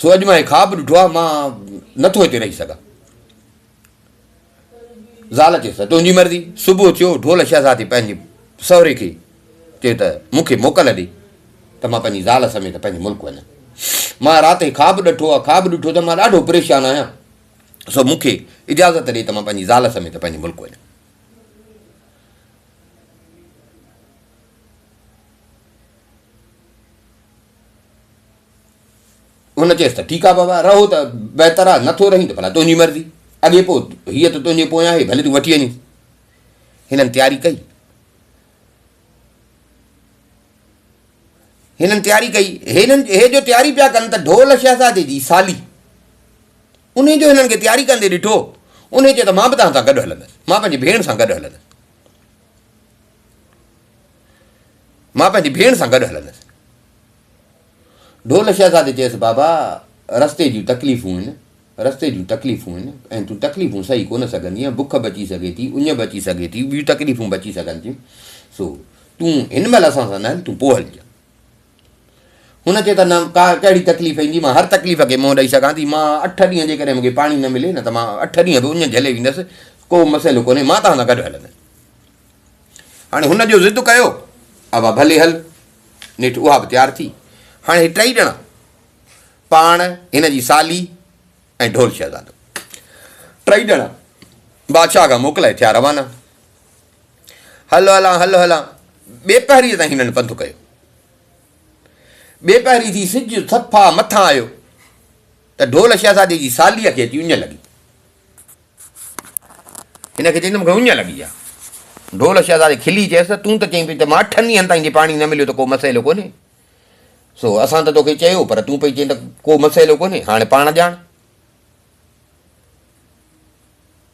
سو اڄ مان هي خواب ڏٺو آهي مان نٿو هتي رهي سگهان زال چيس ته تنهنجي مرضي صبح ٿيو ڍول شهزادي پنهنجي سهري کي چيو ته مون کي موڪل ڏي ته مان پنهنجي زال سميت پنهنجي ملڪ وڃان مان رات هي خواب ڏٺو آهي خواب ڏٺو ته مان ڏاڍو پريشان آهيان سو مون کي اجازت ڏي ته مان پنهنجي زال سميت پنهنجي ملڪ وڃان ان چيس ته ٺيڪ آ بابا رهو ته بهتر آ نٿو رهين ته ڀلا تنهنجي مرضي اڳي پوء هيء ته تنهنجي پويان آهي ڀلي تون وٺي وڃيس هنن تياري ڪئي هنن تياري ڪئي هنن هي جو تياري پيا ڪن ته ڍول شهزادي جي سالي ان جو هنن کي تياري ڪندي ڏٺو ان چي ته مان به توهان سان گڏ هلندس مان پنهنجي ڀيڻ سان گڏ هلندس مان پنهنجي ڀيڻ سان گڏ هلندس. ڍول شهزادي چيس بابا رستي جون تڪليفون آهن رستي جون تڪليفون آهن ۽ تون تڪليفون سهي ڪونه سگهندينء بک به اچي سگهي ٿي اڃ به اچي سگهي ٿي ٻيون تڪليفون به اچي سگهن ٿيون سو تون هن مهل اسان سان نه هل تون پوء هلجان. هن کي ته نه ڪا ڪهڙي تڪليف ايندي مان هر تڪليف کي منهن ڏئي سگهان ٿي مان اٺ ڏينهن جيڪڏهن مون کي پاڻي نه ملي نه ته مان اٺ ڏينهن به اڃ جهلي ويندس ڪو مسئلو ڪونهي مان توهان سان گڏ هلندس هاڻي هن جو ضد ڪيو ابا ڀلي هل نيٺ اها به تيار ٿي هاڻي هي ٽئي ڄڻا پاڻ هن جي سالي ۽ ڍول شهزادو ٽئي ڄڻا بادشاهه کان موڪلائي ٿيا روانا هل هلان هل هلان ٻي پهريء تائين هنن پنڌ ڪيو. ٻي پهري ٿي سج صفا مٿان آيو ته ڍول شهزادي جي ساليء کي اچي اڃ لڳي. هن کي چيائين ته مونکي اڃ لڳي آهي. ڍول شهزادي کلي چيس ته تون ته چئين پئي ته مان اٺن ڏينهن تائين جي پاڻي نه مليو ته ڪو مسئلو ڪونهي. سو اسان ته توکي چيو پر تون پئي چئين ته ڪو مسئلو ڪونهي هاڻي پاڻ ڄاڻ.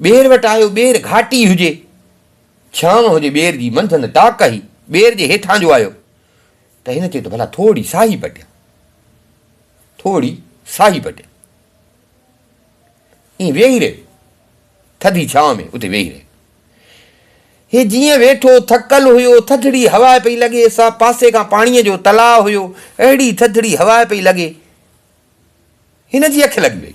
ٻير وٽ آيو، ٻير گهاٽي هجي، ڇانو هجي، ٻير جي منڌن ٽاڪ هئي، ٻير جي هيٺان جو آيو ته هن چيو ته ڀلا ٿوري ساهي پٽيان، ٿوري ساهي پٽيان. ائين ويهي رهيو، ٿڌي ڇانو ۾ اتي ويهي رهيو. هي جيئن ويٺو، ٿڪل هيو، ٿڌڙي هوا پئي لڳي سا، پاسي کان پاڻيء جو تلاء هيو، اهڙي ٿڌڙي هوا پئي لڳي، هن جي اک لڳي وئي.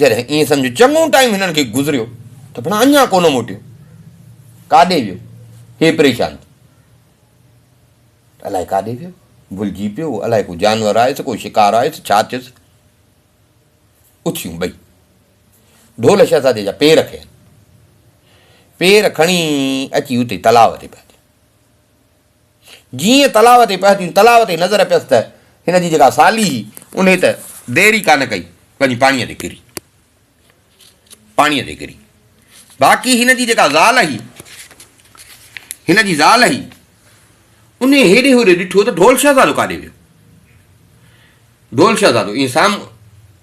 جڏهن ائين سمجهه چڱو ٽائيم هنن کي گذريو ته ڀلا اڃا ڪونه موٽيو، ڪاڏي ويو؟ هي پريشان ٿي ته الائي ڪاڏي ويو، ڀلجي پيو، الائي ڪو جانور آيس، ڪو شڪار آيس، ڇا ٿيس؟ اٿيون ٻئي ڍول شهزادي جا پير کنيا، پير کڻي اچي اتي تلاء تي پيا ڏين. جيئن تلاء تي پهتيون، تلاء تي نظر پيس ته هن جي جيڪا سالي هئي، انهيء ته دير ئي ڪا نه ڪئي، وڃي پاڻيء تي ڪري. پاڻيء تي ڪري. باقي هن جي جيڪا زال هئي، هن جي زال هئي، انهيء هيڏي هوڏي ڏٺو ته ڍول شهزادو ڪاڏي ويو. ڍول شهزادو ائين سام.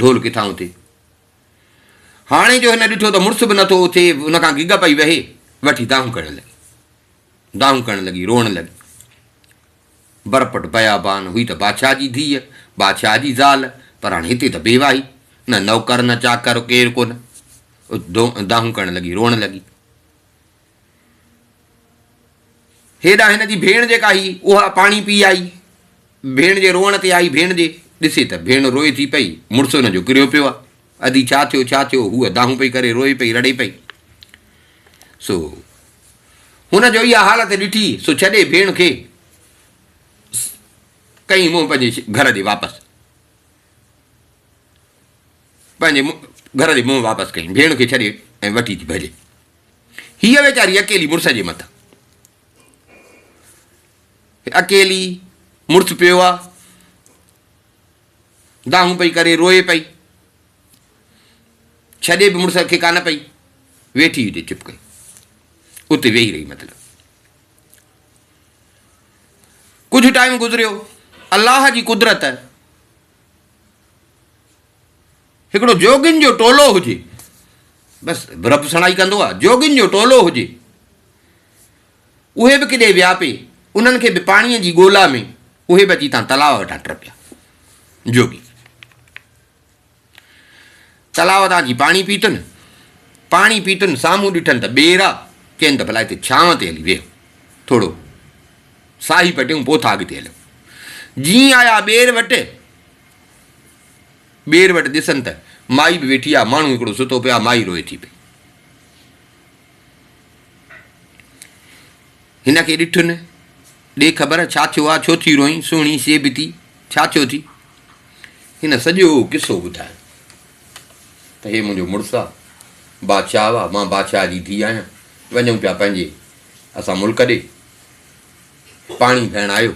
ڍول ڪٿان اٿي. هاڻي جو هن ڏٺو ته مڙس به نٿو اٿي، ان کان گگ پئي وهي، وٺي دانهون ڪرڻ لڳي. دانهون ڪرڻ لڳي، روئڻ لڳي. برپٽ بيابان هئي ته بادشاهه جي ڌيء، بادشاهه جي زال، پر هاڻي هتي ته بيواهي، نه نوڪر نه چاڪر، ڪير ڪونه. دانهون ڪرڻ لڳي، روئڻ لڳي. هيڏانهن هن جي ڀيڻ جيڪا هئي، اها پاڻي پي آئي. ڀيڻ جي روئڻ تي آئي ڀيڻ جي. ڏسي ته ڀيڻ روئي ٿي پئي، مڙس هن جو ڪريو پيو آهي. ادي ڇا ٿيو، ڇا ٿيو، هوء دانهون پئي ڪري، روئي پئي، رڙي پئي. سو هن جو اها حالت ڏٺي، سو ڇڏي ڀيڻ کي ڪيئي منهن پنهنجي گهر ڏي واپس. پنهنجي گهر ڏي منهن واپس ڪيئي، ڀيڻ کي ڇڏي ۽ وٺي ٿي ڀڄي. هيء ويچاري اڪيلي مڙس جي مٿان اڪيلي مڙس پيو آ دانهون پئي ڪري روئي پئي ڇڏي به مڙس کي ڪانه پئي ويٺي هجي چپ ڪري اتي ويهي رهي مطلب ڪجهه ٽائيم گذريو الله جي قدرت هڪڙو جوڳين جو ٽولو هجي. بس برب سڻائي ڪندو آ. جوڳين جو ٽولو هجي. اهي به ڪيڏي ويا پي. انهن کي به پاڻيء جي ڳولا ۾. اهي به اچي تان تلاء وٽان ٽپيا. جوڳي تلاء تان اچي پاڻي پيتن. پاڻي پيتن سامهون ڏٺن ته ٻير آ. چين ته ڀلا هتي ڇانو تي هلي ويهه. ٿورو ساهي پٽيون پوء ٿا اڳتي هليون. جيئن آيا ٻير وٽ. ٻير وٽ ڏسن ته مائي به ويٺي آ، ماڻهو هڪڙو ستو پيو آ، مائي روئي ٿي پئي. هن کي ڏٺ نه، ڏي خبر ڇا ٿيو آ، ڇو ٿي روئين، سهڻي سي به ٿي، ڇا ٿيو ٿي؟ هن سڄو قصو ٻڌايو ته هي منهنجو مڙس آ، بادشاهه آ، مان بادشاهه جي ڌي آهيان، وڃون پيا پنهنجي اسان ملڪ ڏي، پاڻي ڀيڻ آيو،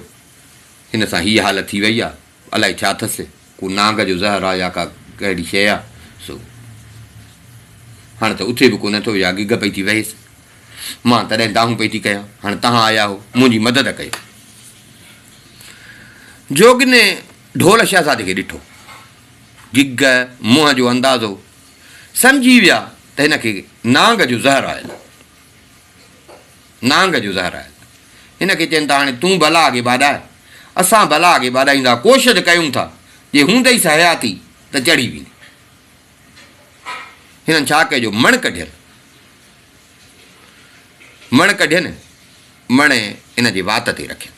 هن سان هي حالت ٿي وئي آ. الائي ڇا اٿس، ڪو نانگ جو زهر آ يا ڪا ڪهڙي شيء آ سو هاڻ ته اٿي به ڪونه ٿو يا گگهه پئي ٿي وهيس. مان تڏهن دانهون پئي ٿي ڪيان، هاڻ تهان آيا هو، منهنجي مدد ڪيو. جوڳني ڍول شهزادي کي ڏٺو. گگهه منهن جو اندازو سمجهي ويا ته هن کي نانگ جو زهر آيل آ. نانگ جو زهر آهي. هن کي چين ٿا هاڻي تون بلا اڳي ٻاڏاء، اسان بلا اڳي ٻاڏائيندا ڪوشش ڪيون ٿا، جي هوندئيس حياتي ته چڙهي ويندي. هنن ڇا ڪجو مڻ ڪڍين. مڻ ڪڍين، مڻ ان جي وات تي رکين.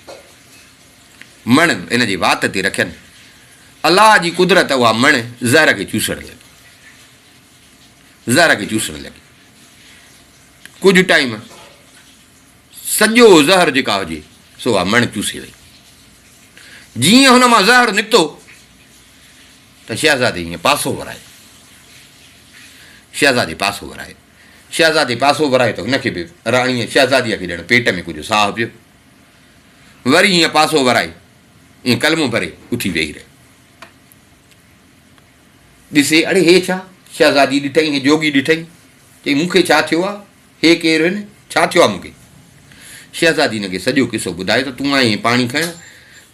مڻ ان جي وات تي رکين. الله جي قدرت اها مڻ زهر کي چوسڻ لڳي. زهر کي چوسڻ لڳي. ڪجهه ٽائيم سڄو زهر جيڪا هجي سو اها مڻ چوسي وئي. جيئن هن مان زهر نڪتو ته شهزادي ائين پاسو ورايو. شهزادي پاسو ورايو. شهزادي پاسو ورايو ته هن کي به راڻيء شهزاديء کي ڄڻ پيٽ ۾ ڪجهه ساهه پيو. وري ائين پاسو ورائي ائين ڪلمو ڀري اٿي ويهي رهيو. ڏسي، اڙي هي ڇا؟ شهزادي ڏٺئي ۽ جوڳي ڏٺئي. چئي، مون کي ڇا ٿيو آ؟ هي ڪير هن؟ ڇا ٿيو آ مون کي؟ شهزادي هن کي سڄو قصو ٻڌايو ته تون آئين هين پاڻي کڻڻ،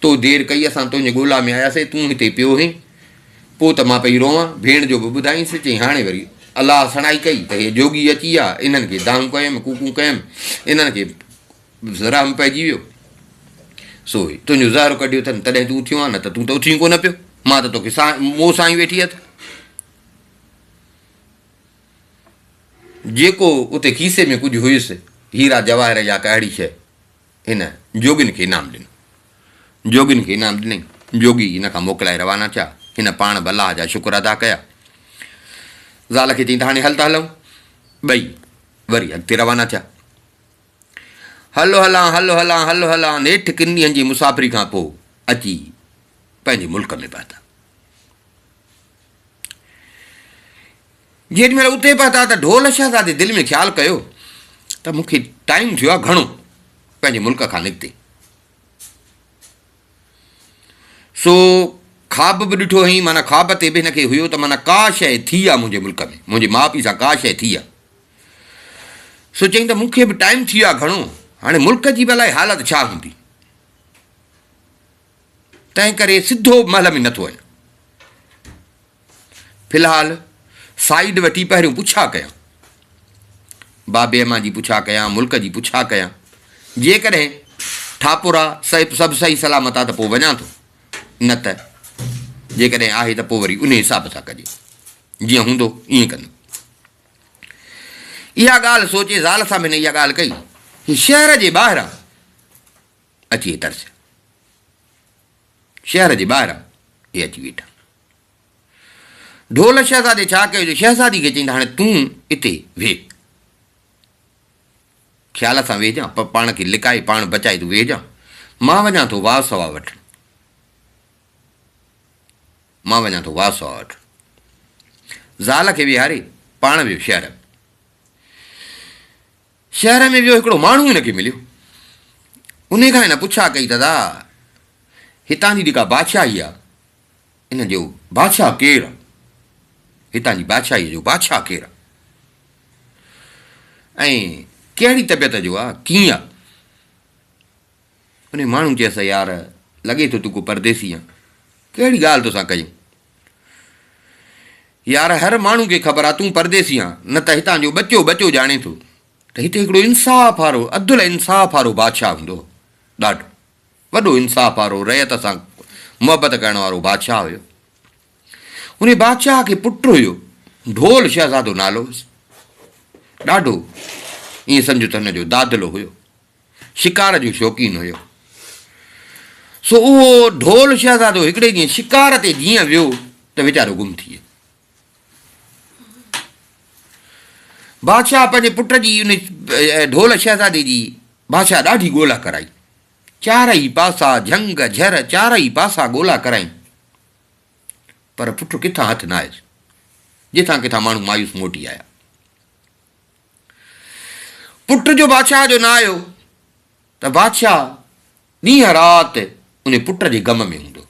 تو دير ڪئي، اسان تنهنجي ڳولا ۾ آياسين، تون هتي پيو هين. پوء ته مان پئي روئان. ڀيڻ جو به ٻڌايائينس. چئي، هاڻي وري الله سڻائي ڪئي ته هي جوڳي اچي آ، انهن کي دانهون ڪيم، ڪوڪون ڪيم، انهن کي. ذرا ۾ پئجي ويو. سو هي تنهنجو زهرو ڪڍيو اٿن، تڏهن تون اٿيو آن، نه ته تون ته اٿي ئي ڪونه پيو. مان ته توکي سا مون سان ئي ويٺي اٿ. جيڪو اتي کيسي ۾ ڪجهه هيس، هيرا جواهر يا ڪا اهڙي شيء، هن جوڳين کي انعام ڏنو. جوڳين کي انعام ڏنائين. جوڳي هن کان موڪلائي روانا ٿيا. هن پاڻ به الله جا شڪر ادا ڪيا. زال کي چيائين ته هاڻي هل ته هلئون. ٻئي وري اڳتي روانا ٿيا. هل هلان هل هلان هل هلان نيٺ ڪن ڏينهن جي مسافري کان پوء اچي پنهنجي ملڪ ۾ پهتا جيڏي مهل اتي پهتا ته ڍول شهزادي دل ۾ خيال ڪيو ته مون کي ٽائيم ٿيو آهي گهڻو پنهنجي ملڪ کان نڪتي سو خواب به ڏٺو هئي مانا خواب تي به هن کي هيو ته مانا ڪا شيء ٿي آهي منهنجي ملڪ ۾ منهنجي ماء پيء سان ڪا شيء ٿي آهي سو چيائين ته مون کي به ٽائيم ٿي ويو آهي گهڻو، هاڻي ملڪ جي به الائي حالت ڇا هوندي، تنهن ڪري سڌو محل ۾ نه ٿو وڃان. في الحال سائيڊ وٺي پهريون پڇا ڪيان، بابي امان جي پڇا ڪيان، ملڪ جي پڇا ڪيان، جيڪڏهن ٺاپورا صيب سڀ صحيح سلامت آهي ته پوء وڃان ٿو، نه ته جيڪڏهن آهي ته پوء وري انهي حساب سان ڪجي، جيئن هوندو ائين ڪندم. اها ڳالهه سوچي زال سان به هن اها ڳالهه ڪئي. هي شهر جي ٻاهران اچي هي ترسيا. شهر جي ٻاهران هي اچي ويٺا. ڍول شهزادي ڇا ڪيو جو شهزادي کي چئين ته هاڻي تون اتي ويهه. خيال سان ويهجان، پاڻ کي لڪائي پاڻ بچائي تون ويهجان. مان وڃان ٿو واء سواء وٺڻ. مان وڃان ٿو واسوء وٽ. زال کي ويهاري پاڻ ويو شهر ۾. شهر ۾ ويو هڪڙو ماڻهو هن کي مليو. انهي کان هن پڇا ڪئي ته ادا هتان جي جيڪا بادشاهي آ ان جو بادشاهه ڪير آ؟ هتان جي بادشاهيء جو بادشاهه ڪير آ؟ ۽ ڪهڙي طبيعت جو آ؟ ڪيئن آ؟ انهيء ماڻهو چيس، يار! لڳي ٿو تون ڪو پرديسي آن. ڪهڙي ڳالهه توسان ڪيون؟ يار! هر ماڻهو کي خبر آ تون پرديسي آن، نه ته هتان جو ٻچو ٻچو ڄاڻي ٿو ته هتي هڪڙو انصاف وارو، عدل ۽ انصاف وارو بادشاهه هوندو هو. ڏاڍو وڏو انصاف وارو، رعيت سان محبت ڪرڻ وارو بادشاهه هيو. انهيء بادشاهه کي پٽ هيو، ڍول شهزادو نالو هيس. ڏاڍو، ائين سمجهه ته هن جو دادلو هيو. شڪار جو شوقين هيو، سو اهو ڍول شهزادو هڪڙي ڏينهن شڪار تي جيئن ويو ته ويچارو گم ٿي ويو. بادشاهه پنهنجي پٽ جي ان ڍول شهزادي جي بادشاهه ڏاڍي ڳولا ڪرائي، چارئي پاسا جهنگ جهر چارئي پاسا ڳولا ڪرائين، پر پٽ ڪٿان هٿ نه آيس، جتان ڪٿان ماڻهو مايوس موٽي آيا. پٽ جو بادشاهه جو نه آيو ته بادشاهه ڏينهن رات ان پٽ جي غم ۾ هوندو.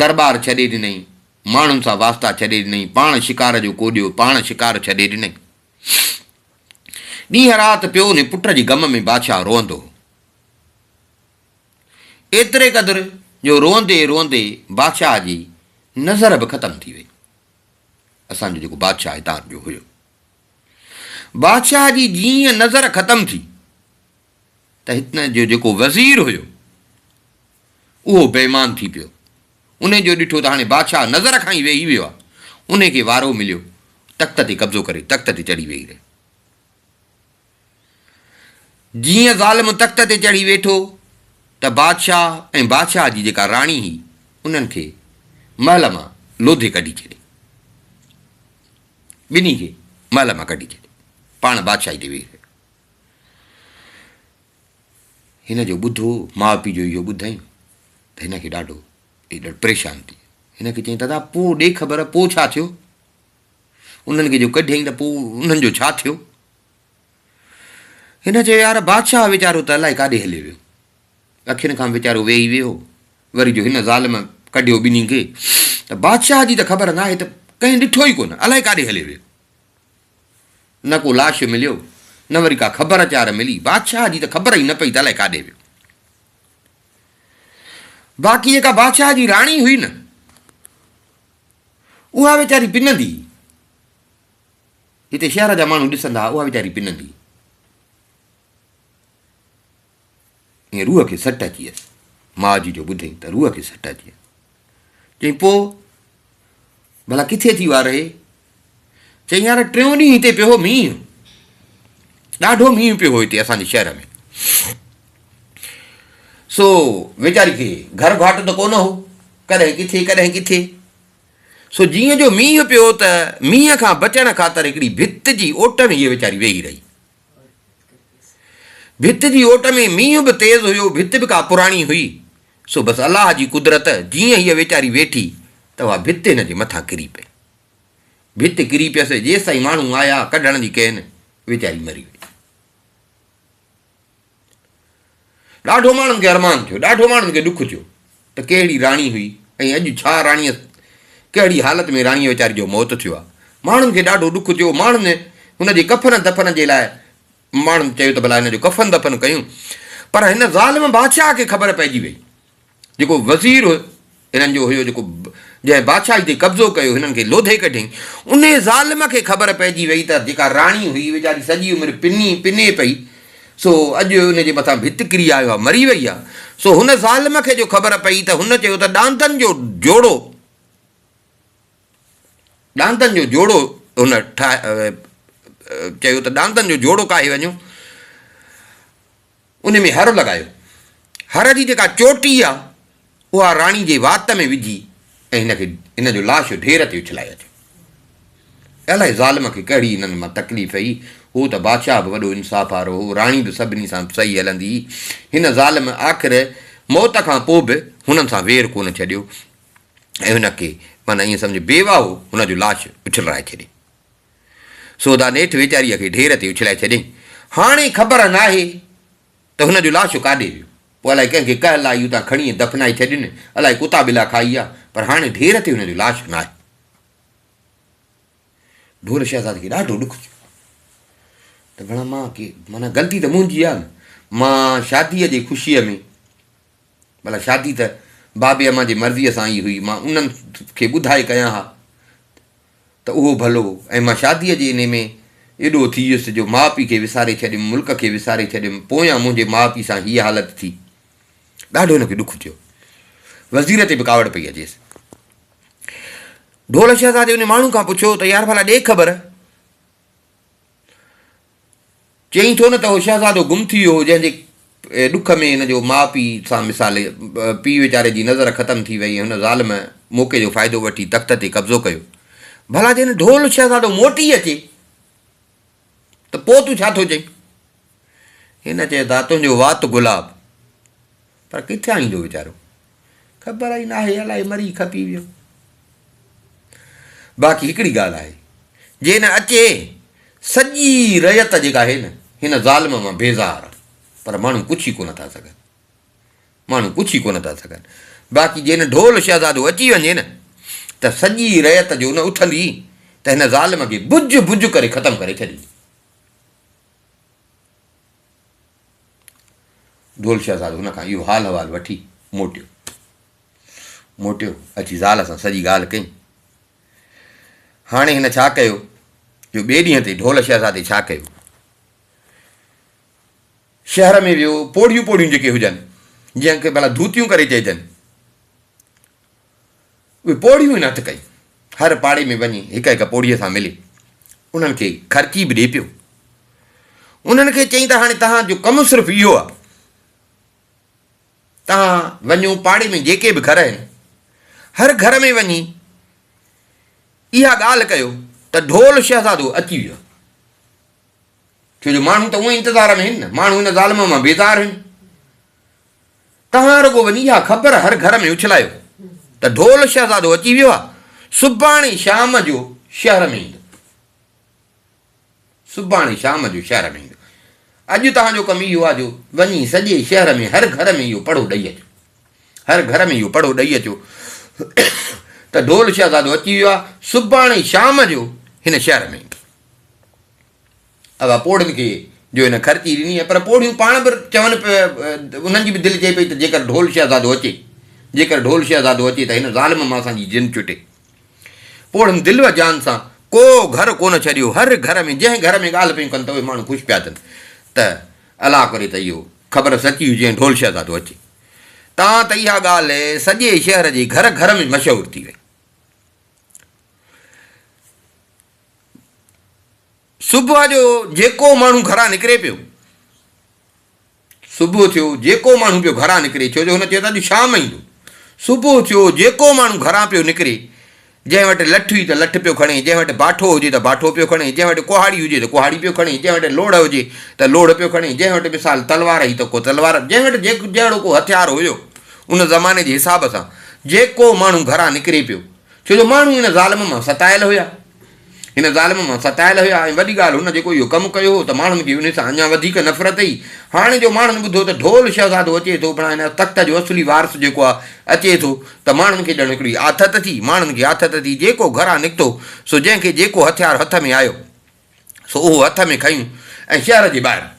درٻار ڇڏي ڏنائين، ماڻهن سان واسطا ڇڏي ڏنائين، پاڻ شڪار جو ڪوڏيو، پاڻ شڪار ڇڏي ڏنائين. ڏينهن رات پيو ان پٽ جي غم ۾ بادشاهه روئندو هو. ايتري قدر جو روئندي روئندي بادشاهه جي نظر به ختم ٿي وئي. اسان جو جيڪو بادشاهه هتان جو هيو. بادشاهه جي جيئن نظر ختم ٿي ته هتان جو جيڪو وزير هيو اهو بي ايمان ٿي پيو. ان جو ڏٺو ته هاڻي بادشاهه نظر کان ئي ويهي ويو آهي. ان کي وارو مليو تخت تي قبضو ڪري تخت تي چڙهي ويهي رهيو. جيئن ظالم تخت تي چڙهي ويٺو ته بادشاهه ۽ بادشاهه جي جيڪا راڻي هئي انهن کي محل مان لوڌي ڪڍي ڇڏي. ٻنهي کي محل مان ڪڍي ڇڏي. پاڻ بادشاهي تي ويهي رهيو. هن جو ٻڌو ماء پيء جو اهو ٻڌائين ته هن کي ڏاڍو پريشان ٿي هن کي چيائين دادا پوء ڏي خبر پوء ڇا ٿيو انهن کي جو ڪڍيائين ته پوء انهن جو ڇا ٿيو هن چيو يار بادشاهه ويچارو ته الائي ڪاڏي هليو ويو. اکين کان ويچارو ويهي ويو وري جو هن ظالم ڪڍيو ٻنهي کي ته بادشاهه جي ته خبر ناهي ته ڪنهن ڏٺو ئي ڪونه الائي ڪاڏي هليو ويو. نه ڪو لاش مليو نه وري ڪا خبر اچار ملي بادشاهه جي ته خبر ئي نه پئي ته الائي ڪاڏي ويو. باقي جيڪا بادشاهه جي راڻي هئي نه اها ويچاري پنندي هئي. جتي شهر جا ماڻهو ڏسن ٿا اها ويچاري پنندي ۽ روح کي سٽ اچي ويس. ماء جي جو ٻڌين ته روح کي سٽ اچي ويس. چئين پوء ڀلا ڪٿي ٿي اها رهي؟ چئين يار ٽيون ڏينهن هتي پيو هو مينهن ڏاڍو مينهن پيو هو هتي اسان جي شهر ۾ سو ويچاري کي گهر گهاٽ ته ڪونه هو ڪڏهن ڪٿي ڪڏهن ڪٿي سو جيئن جو مينهن پيو ته مينهن کان بچڻ خاطر هڪڙي ڀت جي اوٽ ۾ هيء ويچاري ويهي رهي. ڀت جي اوٽ ۾ مينهن به تيز هيو، ڀت به ڪا پراڻي هئي، سو بس الله جي قدرت جيئن هيء ويچاري ويٺي ته اها ڀت هن جي مٿان ڪري پئي. ڀت ڪري پيس، جيستائين ماڻهو آيا، ڪڍڻ جي ڪين، ويچاري مري وئي. ڏاڍو ماڻهن کي ارمان ٿيو، ڏاڍو ماڻهن کي ڏک ٿيو ته ڪهڙي راڻي هئي ۽ اڄ ڇا راڻيء ڪهڙي حالت ۾ راڻيء ويچاري جو موت ٿيو آهي. ماڻهن کي ڏاڍو ڏک ٿيو، ماڻهن هن جي ڪفن دفن جي لاء ماڻهن چيو ته ڀلا هن جو ڪفن دفن ڪيون پر هن ظالم بادشاهه کي خبر پئجي وئي. جيڪو وزير هنن جو هيو جيڪو جنهن بادشاهي تي قبضو ڪيو هنن کي لوڌي ڪڍيائين انهي ظالم کي خبر پئجي وئي ته جيڪا راڻي هئي ويچاري سڄي عمر پني پني پئي سو اڄ ان جي مٿان ڀت ڪري آيو آهي مري وئي آهي سو هن ظالم کي جو خبر پئي ته هن چيو ته ڏاندن جو جوڙو ڏاندن جو جوڙو هن ٺاهي چيو ته ڏاندن جو جوڙو ڪاهي وڃو. ان ۾ هر لڳايو. هر جي جيڪا چوٽي آ، اها راڻي جي وات ۾ وجهي ۽ هن کي هن جو لاش ڍير تي اڇلائي اچو. الائي ظالم کي ڪهڙي هنن مان تڪليف هئي، هو ته بادشاهه به وڏو انصاف وارو هو، راڻي به سڀني سان صحيح هلندي هئي. هن ظالم آخر موت کان پوء به هنن سان وير ڪونه ڇڏيو ۽ هن کي معنيٰ ائين سمجهه بيواهو هن جو لاش اڇلرائي ڇڏي. سوڌا نيٺ ويچاريء کي ڍير تي اڇلائي ڇڏيائين. هاڻي خبر ناهي ته هن جو لاش ڪاڏي ويو. پوء الائي ڪنهن کي ڪهل آيون تان کڻي ۽ دفنائي ڇڏين، الائي ڪتا ٻلا کائي ويا، پر هاڻي ڍير تي هن جو لاش ناهي. ڍول شهزاد کي ڏاڍو ڏک ٿيو ته ڀلا مان ڪي معنيٰ غلطي ته منهنجي آهي نه، مان شاديء جي خوشيء ۾ ڀلا شادي ته بابي امان جي مرضيء سان ئي هئي، مان انهن کي ٻڌائي ڪيان ها ته اهو ڀلو ۽ مان شاديء جي انهي ۾ ايڏو ٿي ويس جو ماء پيء کي وساري ڇڏيم، ملڪ کي وساري ڇڏيم، پويان منهنجي ماء پيء سان هيء حالت ٿي. ڏاڍو هن کي ڏک ٿيو. وزير تي به ڪاوڙ پئي اچيس. ڍول شهزادي انهي ماڻهو کان پڇيو ته يار ڀلا ڏي خبر! چئين ٿو نه ته اهو شهزادو گم ٿي ويو هو، جنهن جي ڏک ۾ هن جو ماء پيء سان مثال پيء ويچاري جي نظر ختم ٿي وئي ۽ هن ظالم موقعي جو فائدو وٺي تخت تي قبضو ڪيو. ڀلا جنهن ڍول شهزادو موٽي اچي ته پوء تون ڇا ٿو چئين؟ هن چيو ته تنهنجو وات گلاب. پر ڪٿيان ايندو ويچارو؟ خبر ئي ناهي، الائي مري کپي ويو. باقي هڪڙي ڳالهه آهي، جي نه اچي، سڄي رعيت جيڪا آهي نه، هن ظالم مان بيزار آهي، پر ماڻهو پڇي ڪونه ٿا سگهن. ماڻهو پڇي ڪونه ٿا سگهن. باقي جي نه ڍول شهزادو اچي وڃي نه، ته سڄي رعيت جو نه اٿندي، ته هن ظالم کي بج بج ڪري ختم ڪري ڇڏيندي. ڍول شهزادو هن کان اهو حال احوال وٺي موٽيو. موٽيو اچي زال سان سڄي ڳالهه ڪئي. هاڻي هن ڇا ڪيو جو ٻئي ڏينهن تي ڍول شهزادي ڇا ڪيو شهر ۾ ويو پوڙهيون پوڙهيون جيڪي هجن جنهن کي ڀلا ڌوتيون ڪري چئجن اهي پوڙهيون هن هٿ ڪيون. هر پاڙي ۾ وڃي هڪ هڪ پوڙهيء سان ملي انهن کي خرچي به ڏئي پيو. انهن کي چيائين ته هاڻي توهان جو ڪم صرف اهو آهي توهان وڃو پاڙي ۾ جيڪي به گهر آهن هر گهر ۾ وڃي اها ڳالهه ڪيو ته ڍول شهزادو اچي ويو آهي. ڇو جو ماڻهو ته اونئين انتظار ۾ آهن نه ماڻهو هن ظالم مان بيزار آهن. توهان رڳو وڃي اها خبر هر گهر ۾ اڇلايو ته ڍول شهزادو اچي ويو آهي، سڀاڻي شام جو شهر ۾ ايندو. سڀاڻي شام جو شهر ۾ ايندو. اڄ توهان جو ڪم اهو آهي جو وڃي سڄي شهر ۾ هر گهر ۾ اهو پڙهو ڏئي اچو. هر گهر ۾ اهو پڙهو ڏئي اچو ته ڍول شهزادو اچي ويو آهي، سڀاڻي شام جو هن شهر ۾ ايندو. اها پوڙهين کي جو هن خرچي ڏني آهي، پر پوڙهيون پاڻ به چون پيا، انهن جي به دل چئي پئي ته جيڪر ڍول شهزادو اچي، جيڪر ڍول شهزادو اچي ته هن ظالم مان اسان جي جن چٽي. پوڙهين دل و جان سان ڪو گهر ڪونه ڇڏيو، هر گهر ۾ جنهن گهر ۾ ڳالهه پيون ڪن ته اهي ماڻهو خوش پيا ٿين ته الله ڪري ته اهو خبر سچي هجي ۽ ڍول شهزادو اچي. تان ته اها ڳالهه سڄي شهر جي گهر گهر ۾ مشهور ٿي وئي. صبح جو جيڪو ماڻهو گهران نڪري پيو صبح ٿيو جيڪو ماڻهو پيو گهران نڪري ڇو جو هن چيو ته اڄ شام ايندو صبح ٿيو جيڪو ماڻهو گهران پيو نڪري جنهن وٽ لٺ هئي ته لٺ پيو کڻي جنهن وٽ باٺو هجي ته باٺو پيو کڻي جنهن وٽ ڪهاڙي هجي ته ڪهاڙي پيو کڻي جنهن وٽ لوڙ هجي ته لوڙ پيو کڻي جنهن وٽ مثال تلوار هئي ته ڪو تلوار جنهن وٽ جيڪو جهڙو ڪو هٿيار هيو ان زماني جي حساب سان جيڪو ماڻهو گهران نڪري پيو ڇو جو ماڻهو هن ظالم مان ستايل هيا. هن ظالم مان ستايل هيا ۽ وڏي ڳالهه هن جيڪو اهو ڪم ڪيو هو ته ماڻهن کي ان سان اڃا وڌيڪ نفرت هئي. هاڻي جو ماڻهن ٻڌو ته ڍول شهزادو اچي ٿو بڻا هن تخت جو اصلي وارث جيڪو آهي اچي ٿو ته ماڻهن کي ڄڻ هڪڙي آٿت ٿي. ماڻهن کي آٿت ٿي. جيڪو گهران نڪتو سو جنهن کي جيڪو هٿيار هٿ ۾ آيو سو اهو هٿ ۾ کنيون ۽ شهر جي ٻاهران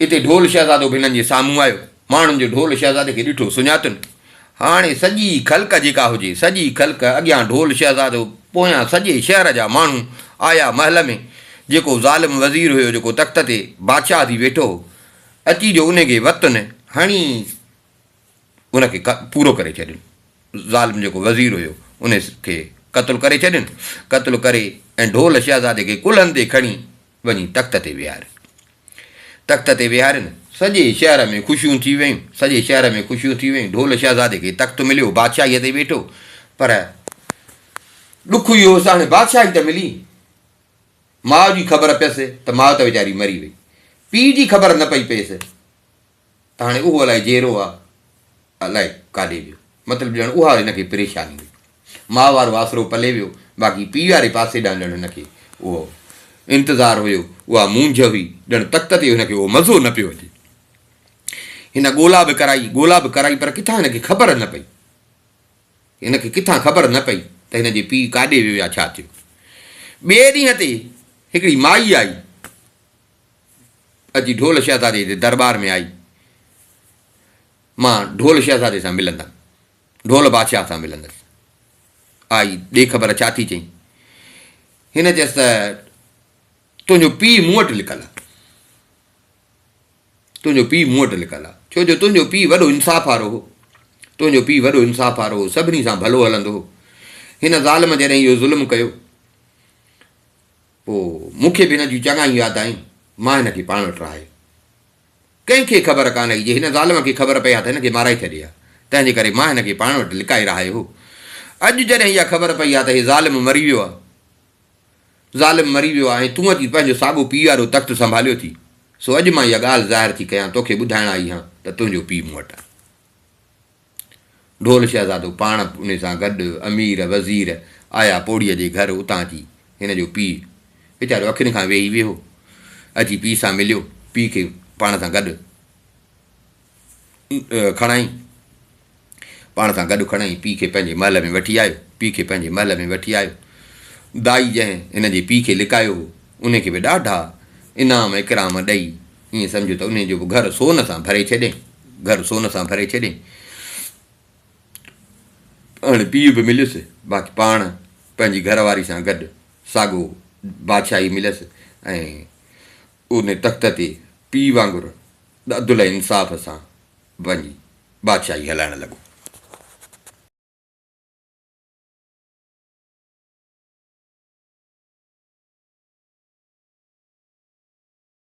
اتي ڍول شهزادو به هنن جي سامهون آيو. ماڻهن جو ڍول شهزادي کي ڏٺو، سڃاتن. هاڻي سڄي خلق جيڪا هجي، سڄي خلق اڳيان ڍول شهزادو، پويان سڄي شهر جا ماڻهو آيا محل ۾، جيڪو ظالم وزير هيو، جيڪو تخت تي بادشاهه ٿي ويٺو هو، اچي جو انهي کي وتن هڻي ان کي پورو ڪري ڇڏين. ظالم جيڪو وزير هيو، انهي کي قتل ڪري ڇڏين. قتل ڪري ۽ ڍول شهزادي کي ڪلهن تي کڻي، وڃي تخت تي ويهارين. تخت تي ويهارين، سڄي شهر ۾ خوشيون ٿي ويون، سڄي شهر ۾ خوشيون ٿي ويون، ڍول شهزادي کي تخت مليو، بادشاهيء تي ويٺو، پر ڏک اهو هوس ته هاڻي بادشاهي ته ملي، ماء جي خبر پيس ته ماء ته ويچاري مري وئي، پيء جي خبر نه پئي پيس. ته هاڻي اهو الائي جيرو آ الائي ڪاڏي ويو. مطلب ڄڻ اها هن کي پريشاني هئي. ماء وارو آسرو پلي ويو باقي پيء واري پاسي ڏانهن ڄڻ هن کي اهو انتظار هيو، اها مونجهه هئي، ڄڻ تخت تي هن کي اهو مزو نه پيو اچي. هن ڳولا به ڪرائي، ڳولا به ڪرائي پر ڪٿان هن کي خبر نه پئي. هن کي ڪٿان خبر نه پئي ته هن جي پيء ڪاڏي ويو يا ڇا ٿيو. ٻئي ڏينهن تي هڪڙي مائي آئي. اچي ڍول شهزادي جي درٻار ۾ آئي. مان ڍول شهزادي سان ملندم. ڍول بادشاهه سان ملندس. آئي ڏي خبر ڇا ٿي چئين. هن چيس ته تنهنجو پيء مون وٽ لڪل آ. تنهنجو پيء مون وٽ لڪل آ. ڇو جو تنهنجو پيء وڏو انصاف وارو هو. تنهنجو پيء وڏو انصاف وارو هو. سڀني سان ڀلو هلندو هو. هن ظالم جڏهن اهو ظلم ڪيو. پوء مون کي به هن جون چڱايون ياد آيون. مان هن کي پاڻ وٽ رهايو. ڪنهن کي خبر ڪانه هئي. جي هن ظالم کي خبر پئي ها ته هن کي مارائي ڇڏي ها. تنهن جي ڪري مان هن کي پاڻ وٽ لڪائي رهايو هو. اڄ جڏهن اها خبر پئي ها ته هي ظالم مري ويو آهي. ظالم مري ويو آهي ۽ تون اچي پنهنجو ساڳو پيء وارو تخت سنڀاليو ٿي. سو اڄ مان اها ڳالهه ظاهر ٿي ڪيان. توکي ٻڌائڻ آئي هان ته تنهنجو پيء مون وٽ آهي. ڍول شهزادو پاڻ به ان سان گڏ امير وزير آيا پوڙهيء جي گهر اتان اچي هن جو پيء ويچارو اکين کان ويهي ويهو اچي پيء سان مليو پيء کي پاڻ سان گڏ کڻائي پاڻ سان گڏ کڻائي پيء کي پنهنجي محل ۾ وٺي آيو پيء کي پنهنجي محل ۾ وٺي آيو دائي جنهن هن جي پيء کي لڪايو هو ان کي به ڏاڍا انعام اڪرام ڏئي ائين سمجهه ته انهيء جو به گهر سون سان ڀري ڇڏين. گهر سون سان ڀري ڇڏين. هاڻي پيء به مليس، باقي پاڻ پنهنجي گهر واري سان گڏ ساڳو بادشاهي مليس ۽ ان تخت تي پيء وانگر عدل ۽ انصاف سان پنهنجي بادشاهي هلائڻ لڳو.